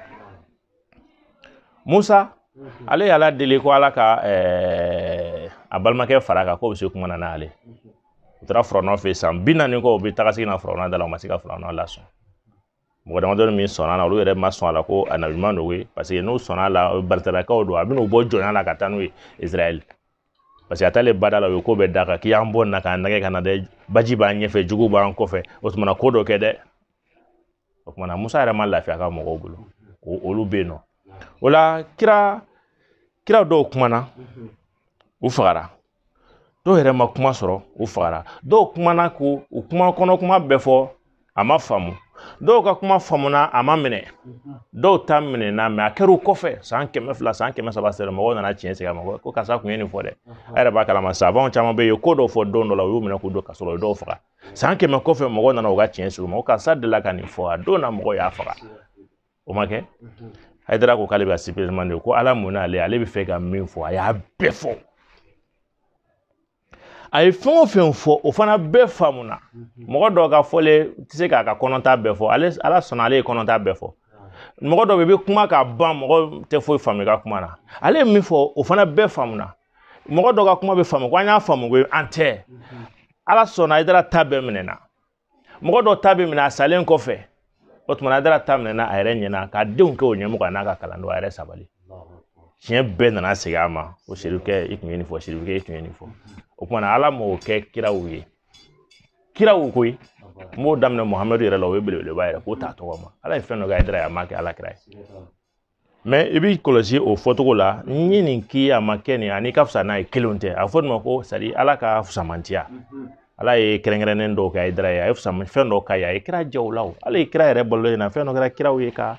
musa mhm. ale y'ala deli ko ala ka eh, a balimakɛ fara a kan k'o bɛ se kuma na n'ale u taara firawuna fɛ san bi naani kɔ u bɛ taga segin na firawuna da la u ma se ka firawuna lasɔn mɔgɔ damadɔ min sɔnna a la olu yɛrɛ ma sɔn a la ko a nabi ɲuman don ye parce que n'u sɔnna a la baritalakaw don a bɛna u bɔ jɔnya la ka taa n'u ye israɛl parce que a taalen ba da la u ye ko bɛɛ d'a kan k'i y'an bɔ nin na k'an nɛgɛn ka na dɛ baji b'an ɲɛfɛ jugu b'an kɔfɛ o tuma na ko dɔ kɛ dɛ o kuma na musa yɛrɛ ma lafiya a ka mɔgɔw bolo olu bɛ yen nɔ o la kira kira dɔw kumana u fagara dɔw yɛrɛ ma kuma sɔrɔ u fagara dɔw kumana ko u kuma kɔnɔ kuma bɛɛ fɔ a ma faamu dɔw ka kuma faamuna a ma minɛ dɔw ta minɛna mais a kɛra kɔfɛ san kɛmɛ fila san kɛmɛ saba sera mɔgɔw nana tiɲɛ sigi a ma ko karisa kun ye nin fɔ dɛ a yɛrɛ b'a kalama sabaw caman bɛ yen ko dɔw fɔ don dɔ la u y'u minɛ k'u don kaso rɔ dɔw faga san kɛmɛ kɔfɛ mɔgɔw nana u ka tiɲɛ sigi a ma ko karisa delila ka nin fɔ a don na mɔgɔw y'a faga o ma kɛ hayidara ko k'ale bɛ ka sipereman de ko ala mun n'ale ale bɛ fɛ ka min fɔ a y'a bɛɛ fɔ a ye fɛn o fɛn fɔ o fana bɛɛ faamuna mɔgɔ dɔw ka fɔlen tɛ se k'a ka kɔnɔta bɛɛ fɔ ale ala sɔnna ale ye kɔnɔta bɛɛ fɔ mɔgɔ dɔ bɛ i bɛ kuma k'a ban mɔgɔ tɛ foyi faamu i ka kuma na ale ye min fɔ o fana bɛɛ faamuna mɔgɔ dɔ ka kuma bɛ faamu ko an y'a faamu ko an tɛ ala sɔnna hayidara ta bɛɛ minɛna mɔgɔ dɔ ta bɛ minɛ a salen kɔfɛ o tuma na hayidara ta minɛna a yɛrɛ ɲɛna k'a denw kɛ o ɲɛmɔgɔ n'a ka kalandenw a yɛrɛ sabali tiɲɛ bɛɛ nana segin a ma ko serifukɛ i tun ye nin fɔ serifukɛ i tun ye nin fɔ o tuma na ala m'o kɛ kiraw ye kiraw koyi n b'o daminɛ muhamadu yɛrɛ la o ye belebeleba yɛrɛ k'o t'a tɔgɔ ma ala ye fɛn dɔ kɛ hayidara ye a ma kɛ ala kira ye mais i b'i kɔlɔsi o fɔcogo la n ye nin k'i a ma kɛ nin ani ka fisa n'a ye kelenw tɛ a fɔ nin ma ko c'est-à-dire ala ka fusamantiya ala ye kɛrɛnkɛrɛnnen dɔw kɛ hayidara ye a ye fusaman fɛn dɔw k'a ye a ye kira jaw la o ala ye kira yɛrɛ balolen na fɛn dɔ kɛra kiraw ye ka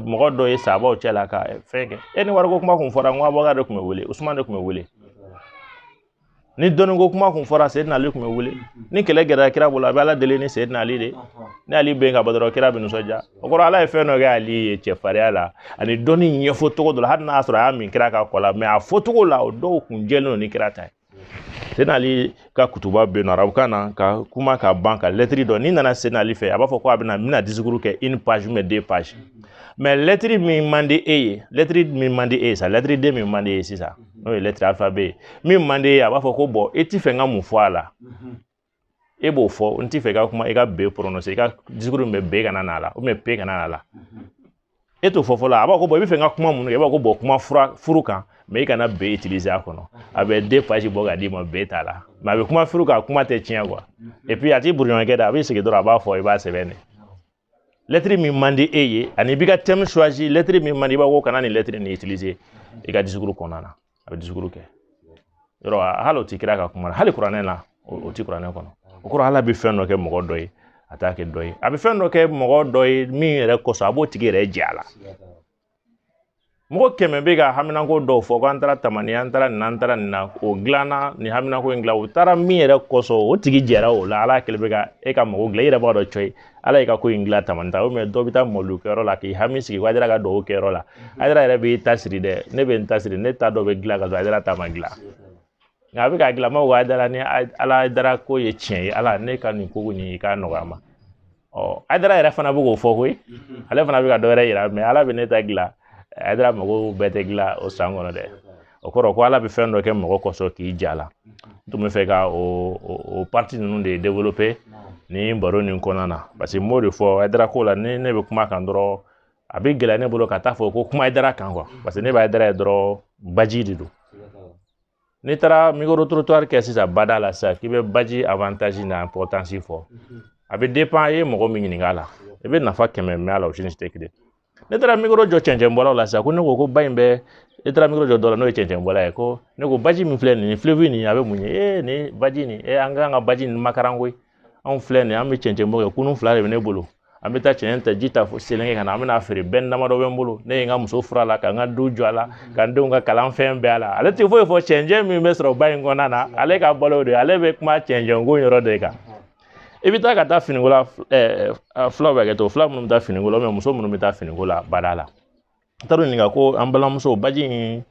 mɔgɔ dɔ ye sabaw cɛ la ka fɛn kɛ e ni wariko kuma kun fɔra n ko abubakari de tun bɛ wele usumani de tun bɛ wele ni dɔnni ko kuma kun fɔra seyidina ali kun bɛ wele ni kɛlɛ gɛrɛla kira bolo a bɛ ala deli ni seyidina ali de ni ali bɛ yen ka bɔ dɔrɔn kira bɛ nisɔndiya o kɔrɔ ala ye fɛn dɔ kɛ ali ye cɛfarinya la ani dɔnni ɲɛfɔ cogo dɔ la hali n'a sɔrɔ a y'a min kira ka kɔ la mɛ a fɔcogo la o dɔw kun jɛlen don ni kira ta ye seyidina ali ka kutuba bɛ yen nɔ arabukan na ka kuma ka ban ka lɛtiri dɔ n'i nana seyidina ali fɛ a b'a fɔ ko a bɛna n bɛna disikuru kɛ une page ou deux pages mɛ lɛtiri min man di e ye lɛtiri min man di e ye sa lɛtiri den min man di e ye sisan n'o ye lɛtiri alifabe ye min man di e ye a b'a fɔ ko bɔn e ti fɛ n ka mun fɔ a la e b'o fɔ n ti fɛ i ka kuma i ka be pɔrɔnɔse i ka disukuru min bɛ be kana n'a la ubiyɛn pe kana n'a la e t'o fɔ fɔlɔ a b'a fɔ ko bɔn i bɛ fɛ n ka kuma mun kan i b'a fɔ ko bɔn kuma fura furu kan mɛ i kana be itilize a kɔnɔ a bɛ deux pages bɔ ka d'i ma be t'a la mɛ a bɛ kuma furu kan kuma tɛ tiɲɛ kuwa epi a ti brouillon kɛ dɛ a b'i sigi dɔrɔn a b'a fɔ i b'a sɛbɛn de lɛtiri min man di e ye ani i b'i ka tɛmu suwazi lɛtiri min man di i b'a ko kana nin lɛtiri nin itilize i ka disukuru kɔnɔna na a bɛ disukuru kɛ yɔrɔ hali o ti kira ka kuma la hali kuranɛ la o ti kuranɛ kɔnɔ o kɔrɔ ala bɛ fɛn dɔ kɛ mɔgɔ dɔ ye a t'a kɛ dɔ ye a bɛ fɛn dɔ kɛ mɔgɔ dɔ ye min yɛrɛ kosɔn a b'o tigi yɛrɛ jɛ a la mɔgɔ kɛmɛ bɛ ka haminanko dɔw fɔ ko an taara tamani an taara nin an taara nin na o dilanna nin haminanko in dilan u taara min yɛrɛ kɔsɔn o tigi jɛra o la ala kɛlen bɛ ka e ka mago dilan i yɛrɛ b'a dɔn cɔyi ala y'i ka ko in dilan tamani ta mɛ dɔ bɛ taa mawuludu kɛyɔrɔ la k'i hami sigi ko hayidara ka dugawu kɛyɔrɔ la hayidara yɛrɛ b'i ta siri dɛ ne bɛ n ta siri ne ta dɔ bɛ dilan ka sɔrɔ hayidara ta ma dilan nka a bɛ ka dilan ma ko hayidara ni ala hayidara ko ye tiɲɛ ye ala ne ka nin ko nin i k'a nɔgɔya ma ɔ hayidara yɛrɛ fana bɛ k'o fɔ koyi ale fana bɛ ka dɔ wɛrɛ yira mɛ ala bɛ ne ta dilan hayidara mago bɛɛ tɛ dilan o san kɔnɔ dɛ o kɔrɔ ko ala bɛ fɛn dɔ kɛ mɔgɔ kɔsɔn k'i jɛ a la n tun bɛ fɛ ka o o pariti ninnu de développer ni baro nin kɔnɔna na parce que n b'o de fɔ hayidara ko la ni ne bɛ kuma kan dɔrɔn a bɛ gɛlɛya ne bolo ka taa fɔ ko kuma hayidara kan quoi parce que ne bɛ hayidara ye dɔrɔn baji de don n'i taara micro trottoir kɛ sisan bada la sisan k'i bɛ baji avantage n'a importance fɔ mhm. a bɛ dépend e ye mɔgɔ min ɲininka a la i bɛ nafa kɛmɛ mɛn a la o si ni si tɛ kelen n'e taara mikoro jɔ cɛncɛnbɔlaw la sisan ko ne ko ko ba in bɛ n'e taara mikoro jɔ dɔ la n'o ye cɛncɛnbɔla ye ko ne ko baji min filɛ nin ye fleuve nin a bɛ mun ye ee nin baji nin ee an kan ka baji nin makaran koyi anw filɛ nin ye an bɛ cɛncɛn bɔ kɛ kurun fila de bɛ ne bolo an bɛ taa cɛncɛn ta ji ta fo selenke ka na an bɛna feere bɛn damadɔ bɛ n bolo ne ye n ka muso furu a la ka n ka du jɔ a la ka n denw ka kalan fɛn bɛɛ a la ale tɛ foyi fɔ cɛncɛn min bɛ sɔrɔ ba in kɔnɔna na ale ka balo de ale bɛ kuma cɛncɛn ko yɔrɔ de kan i bɛ taa ka taa finiko la fulaw bɛ kɛ to fula minnu bɛ taa finiko la muso minnu bɛ taa finiko la bada la n taara ɲininka ko an balimamuso baji in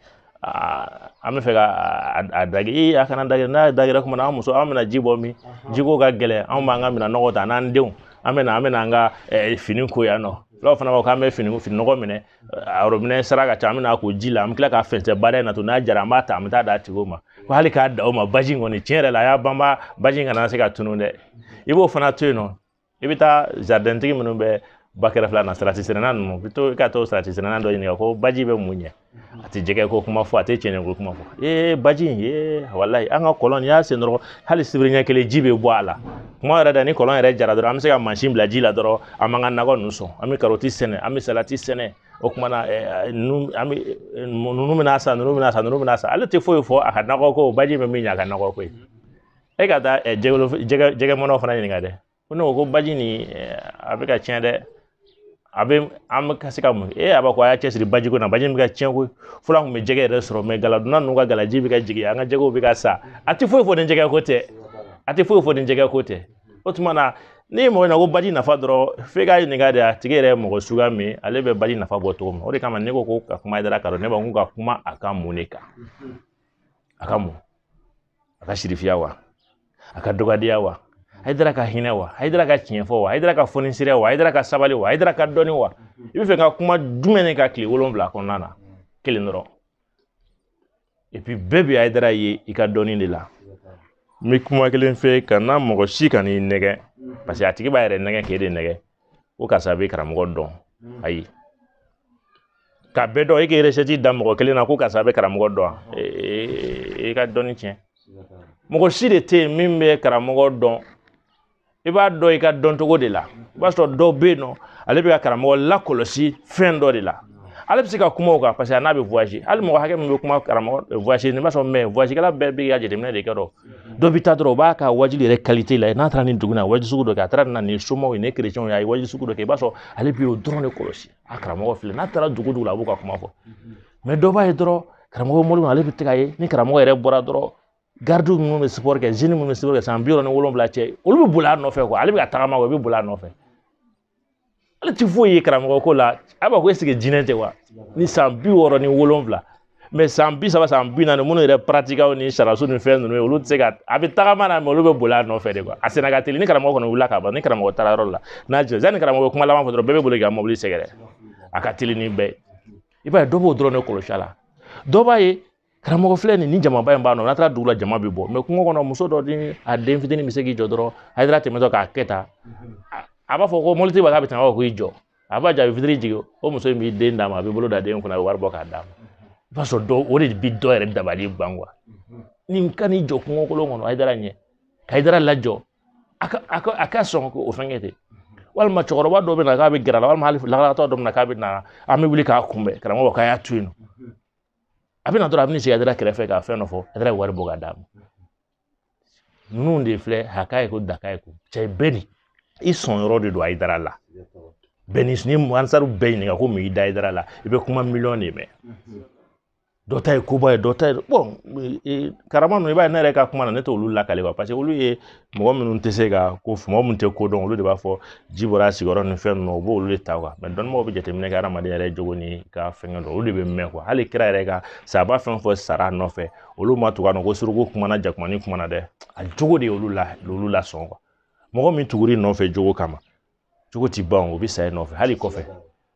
an bɛ fɛ ka a dage ee a kana dagɛ n'a dagɛra kuma na an muso an bɛna ji bɔ min jiko ka gɛlɛn anw b'an ka minɛn nɔgɔ ta n'an denw an bɛ na an bɛ na an ka fini ko yan nɔ dɔw fana b'a fɔ k'an bɛ fini fini nɔgɔ minɛ a worobinɛ sara ka ca an bɛ na ko ji la an bɛ tila k'a fɛnsɛ bada in na to n'a jara an b'a ta an bɛ taa d'a tigiw ma ko hali k'a da o ma baji in kɔni tiɲɛ yɛrɛ la a y'a banba baji in kana se ka tunun dɛ i b'o fana to yen nɔ i bɛ taa jaridɛntigi minnu bɛ ba kɛrɛfɛla na salati sɛnɛna ninnu bɛ to i ka taa salati sɛnɛna dɔ ɲininka ko baji bɛ mun ɲɛ a tɛ jɛgɛ ko kuma fɔ a tɛ cɛncɛn ko kuma fɔ ee baji in ee walayi an ka kɔlɔn n'i y'a sen dɔrɔn hali sibiri ɲɛ kelen ji bɛ bɔ a la kuma yɛrɛ tɛ ni kɔlɔn yɛrɛ jara dɔrɔn an bɛ se ka mansin bila ji la dɔrɔn an b'an ka nakɔ ninnu sɔn an bɛ karɔti sɛnɛ an bɛ salati sɛnɛ o kuma na ninnu an bɛ ninnu bɛna san ninnu bɛna san ninnu bɛna san ale tɛ foyi fɔ a ka nakɔ ko baji bɛ min ɲɛ a ka nakɔ ko ye e ka taa ɛ jɛgɛ jɛgɛ jɛgɛ mɔnna fana ɲininka dɛ ko ne ko ko baji nin a bɛ ka tiɲɛ dɛ a bɛ an bɛ ka se ka mun kɛ a b'a ko a y'a cɛsiri baji ko na baji bɛ ka tiɲɛ ko fɔlɔ an tun bɛ jɛgɛ yɛrɛ sɔrɔ mɛ galadonna ninnu ka galaji bɛ ka jigin an ka jɛgɛw bɛ ka sa a tɛ foyi fɔ ni jɛgɛ ko tɛ a tɛ foyi fɔ ni jɛgɛ ko tɛ o tuma na n'i ye mɔgɔ ɲininka ko baji nafa dɔrɔn f'e k'a ɲininka de a tigi yɛrɛ ye mɔgɔ suguya min ale bɛ baji nafa bɔ cogo min o de kama ne ko ko ka kuma hayidara kan dɔn ne b'a ko ka kuma a ka mun de kan a ka mun a ka sirifiya wa a ka dɔgɔdenya wa hayidara ka hinɛ wa hayidara ka tiɲɛ fɔ wa hayidara ka fonisiriya wa hayidara ka sabali wa hayidara ka dɔnni wa i bɛ fɛ ka kuma jumɛn ne kan tile wolonwula kɔnɔna na kelen dɔrɔn epi bɛɛ bɛ hayidara ye i ka dɔnni de la n bɛ kuma kelen fɔ kana mɔgɔ si kan'i nɛgɛn parce que a tigi b'a yɛrɛ nɛgɛn k'e de nɛgɛn ko karisa bɛ karamɔgɔ dɔn ayi ka bɛɛ dɔn e k'i resɛti da mɔgɔ kelen na ko karisa a bɛ karamɔgɔ dɔn e ka dɔnni tiɲɛ mɔgɔ si de tɛ yen min bɛ karamɔgɔ dɔn i b'a dɔn i ka dɔncogo de la i b'a sɔrɔ dɔw bɛ yen nɔ ale bɛ ka karamɔgɔ lakɔlɔsi fɛn dɔ de la ale bɛ se ka kuma o kan paseke a n'a bɛ woyaze hali mɔgɔ hakɛ min bɛ kuma karamɔgɔ woyazi n'i b'a sɔrɔ mɛ woyazikɛla bɛɛ b'i ka jateminɛ de kɛ dɔrɔn dɔ bɛ taa dɔrɔn o b'a ka waajuli yɛrɛ kalite la n'a taara ni dugu na waajuli sugu dɔ kɛ a taara na ni somaw ye ni kerecɛnw ye a ye waajuli sugu dɔ kɛ i b'a sɔrɔ ale bi o dɔrɔn de kɔlɔsi a karamɔgɔ filɛ n'a taara dugu dugu la a b'u ka kuma fɔ mɛ dɔ b'a ye dɔrɔn karamɔgɔ bɔli ale bɛ taa k'a ye ni karamɔgɔ yɛrɛ bɔra dɔrɔn garidiw minnu bɛ sipɔri kɛ zɛni minnu bɛ sipɔri kɛ san bi wɔɔrɔ ni wolonwula cɛ olu bɛ boli a nɔfɛ ale bɛ ka tagama o bɛ boli a nɔfɛ ale ti foyi ye karamɔgɔ ko la a b'a ko eseke jinɛ tɛ wa ni san bi wɔɔrɔ ni wolonwula mɛ san bi saba san bi naani minnu yɛrɛ paratikaw ni sariyaso ni fɛn ninnu ye olu tɛ se ka a bɛ tagama na mɛ olu bɛ boli a nɔfɛ de kuwa a senna ka teli ni karamɔgɔ kɔni wulila ka ban ni karamɔgɔ taara yɔrɔ la n'a jɛ yanni karamɔgɔ kuma laban fɔ dɔrɔn bɛɛ bɛ boli ka mobili sɛgɛrɛ a ka teli ni bɛɛ ye i b'a ye dɔ b'o dɔrɔn de kɔlɔsi a la dɔ b'a ye karamɔgɔ filɛ nin ni jamaba in b'a nɔ n'a taara dugu la jama bɛ bɔ mais kungo kɔnɔ muso dɔ ni a den fitinin bɛ se k'i jɔ dɔrɔn haidara tɛmɛtɔ k'a kɛ tan a b'a fɔ ko mɔbilitigi b'a bɛ tɛmɛ ko i jɔ a b'a jaabi vitre jigin o muso in b'i den d'a ma a bɛ bolo da den kunna a bɛ wari bɔ k'a d'a ma i b'a sɔrɔ dɔw o de bi dɔ yɛrɛ dabali ban quoi nin ka n'i jɔ kungo kolon kɔnɔ haidara ɲɛ ka haidara lajɔ a ka a ka a ka sɔn ko o fɛngɛ ten walima cɛkɔrɔba dɔ bɛ na k'a bɛ gɛrɛ a la walima hali lakalatɔ dɔ bɛ na k'a bɛ na an bɛ wuli k'a kunbɛn karamɔgɔ k'a y'a to yen nɔ a bɛ na dɔrɔn a bɛ n'i sigi a kɛrɛfɛ ka fɛn dɔ fɔ haidara ye wari bɔ k'a d'a ma ninnu de filɛ a k'a ye ko da k'a ye ko cɛ bɛɛ ni i sɔn yɔrɔ de don haidara la bɛɛ ni ni ansari bɛɛ ɲininka ko mun y'i da haidara la i bɛ kuma miliyɔn de mɛn dɔ ta ye koba ye dɔ ta ye bon karama ninnu i b'a ye ne yɛrɛ ka kuma na ne t'olu lakali quoi parce que olu ye mɔgɔ minnu tɛ se ka ko mɔgɔ minnu tɛ ko dɔn olu de b'a fɔ ji bɔra a sigiyɔrɔ ni fɛn ninnu u b'olu de ta mais dɔnnibagaw bɛ jateminɛ kɛ hadamaden yɛrɛ jogo ni ka fɛngɛ dɔn olu de bɛ mɛn hali kira yɛrɛ ka sahaba fɛn o fɛn sara a nɔfɛ olu ma tugu a nɔ ko suruku kumana jakumanin kumana dɛ a jogo de y'olu la olu lasɔn mɔgɔ min tugur'i nɔfɛ jogo kama jogo ti ban o bɛ sa i nɔfɛ hali kɔfɛ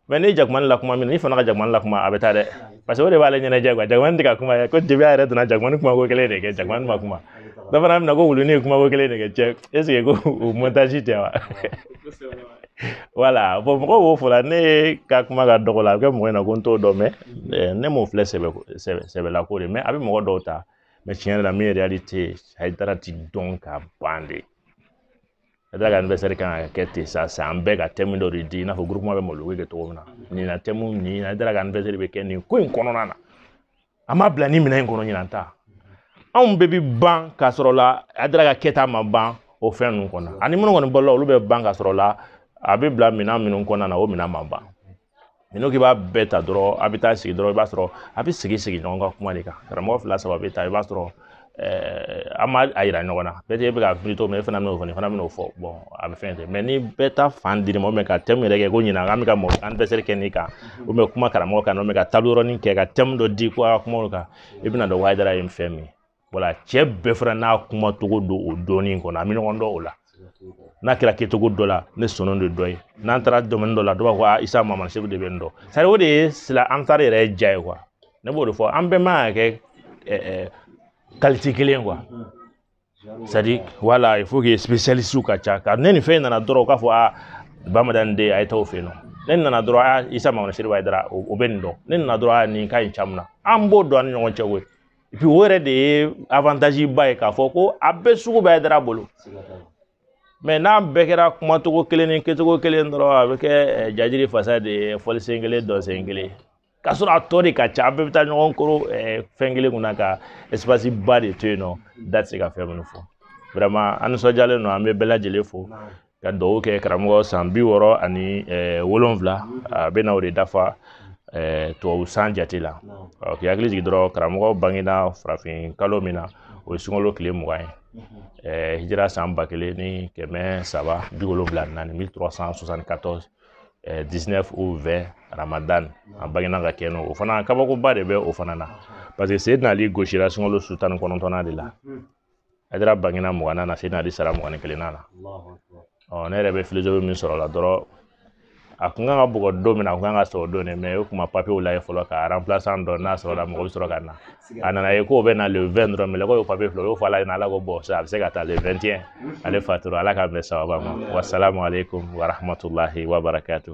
mais ni jakuma lakuma min n'i fana ka jakuma lakuma a bɛ taa dɛ parce que o de b'ale ɲɛnajɛ quoi jakuma tɛ ka kuma ye ko depuis a yɛrɛ donna jakumanin kuma ko kelen de kɛ jakuma ma kuma dɔ fana bɛna ko wuluni ye kuma ko kelen de kɛ cɛ est-ce que ko o montage tɛ wa voilà bon mɔgɔw b'o fɔ la ne ka kuma ka dɔgɔ la a bɛ kɛ mɔgɔ in na ko n t'o dɔn mais ne m'o filɛ sɛbɛlako de mais a bɛ mɔgɔ dɔw ta mais tiɲɛ yɛrɛ la min ye réalité ye haidara ti dɔn ka ban de haidara ka anniversaire kan ka kɛ ten sa san bɛɛ ka thème dɔ de di i n'a fɔ groupement bɛ mawuludu kɛ cogo min na nin na thème nin na haidara ka anniversaire bɛ kɛ nin ko in kɔnɔna na an b'a bila nin minɛn in kɔnɔ ɲinan ta anw bɛɛ bi ban k'a sɔrɔ la haidara ka kɛta ma ban o fɛn ninnu kɔnɔ ani minnu kɔni balola olu bɛ ban k'a sɔrɔ la a bɛ bila minɛn minnu kɔnɔna na o minɛn ma ban n'i k'i b'a bɛɛ ta dɔrɔn a bɛ taa sigi dɔrɔn i b'a sɔrɔ a bɛ sigi sigi ɲɔgɔn ka kuma de kan karamɔgɔ fila saba bɛ taa i b'a sɔrɔ an m'a yira ɲɔgɔn na peut-être e bɛ ka plutôt mais e fana bɛn'o fɔ nin fana bɛn'o fɔ a bɛ fɛn tɛ mais ni bɛɛ ta fan dir'i ma ka thème yɛrɛ kɛ ko ɲinan k'an bɛ ka mɔgɔ anniversaire kɛ nin kan ou bien kuma karamɔgɔ kan ou bien ka table ronde kɛ ka thème dɔ di ko a ka kumaw kan i bɛna dɔn haidara ye fɛn min ye voilà cɛ bɛɛ fana n'a kuma cogo don o dɔɔni kɔnɔ an bɛ ɲɔgɔn dɔn o la n'a kɛra kɛcogo dɔ la ne sɔnna de dɔ ye n'an taara domaine dɔ la dɔw b'a fɔ a isa mama seku de bɛ nin dɔn c'est-à-dire o de ye sila an taara yɛrɛ ye ja ye quoi ne b'o de fɔ an bɛɛ man ka kɛ qualité kelen quoi c'est-à-dire voilà il faut que spécialiste ka ca ka ne ni fɛn nana dɔrɔn k'a fɔ a bamadani de a ye taa o fɛ yen nɔ ne nana dɔrɔn a isa mama seku haidara o bɛ nin dɔn ne nana dɔrɔn a nin ka ɲi caman na an b'o dɔn an ni ɲɔgɔn cɛ koyi puis o yɛrɛ de ye avantage ba ye k'a fɔ ko a bɛɛ sugu bɛ hayidara bolo mais n'an bɛɛ kɛra kumacogo kelen ni kɛcogo kelen dɔrɔn a bɛ kɛ eh, jajiri fasa de ye fɔlisen kelen dɔnsen kelen k'a sɔrɔ a tɔ de ka ca an bɛɛ bɛ taa ɲɔgɔn kɔrɔ eh, fɛn kelen kunna ka espace ba de to yen nɔ da tɛ se ka fɛn minnu fɔ vraiment an nisɔndiyalen don an bɛ bɛɛ lajɛlen fo ka dugawu kɛ karamɔgɔ san bi wɔɔrɔ ani wolonwula a bɛ na o de dafa tubabu san jate la k'i hakili jigin dɔrɔn karamɔgɔ bangena farafin kalo min na o ye sunkalo tile mugan ye Eh, hijira san ba kelen ni kɛmɛ saba bi wolonwula naani mille trois cent soixante quatorze eh, dix neuf ou vingt ramadan a bangena ka kɛ n'o o fana kabakoba de bɛ o fana na parce que seydina ali gosira sunkalo su tan ni kɔnɔntɔnnan de la hayidara bangena mugannan na seyidina ali sara mugan ni kelennan na ɔ ne yɛrɛ bɛ filozofi min sɔrɔ la dɔrɔn a kun kan ka bugɔ don min na a kun kan ka sɔrɔ don de mais o kuma papier lajɛ fɔlɔ ka remplaçant dɔ n'a sɔrɔla mɔgɔ bɛ sɔrɔ ka na a nana ye k'o bɛ na le vingt dɔrɔn mais ko papier filɛ o y'o fɔ ala ɲɛna ala ko bon a bɛ se ka taa le vingt et un ale fatura ala k'an bɛn sawaba ma wasalamu aleykum warahmatulahi wabarakatu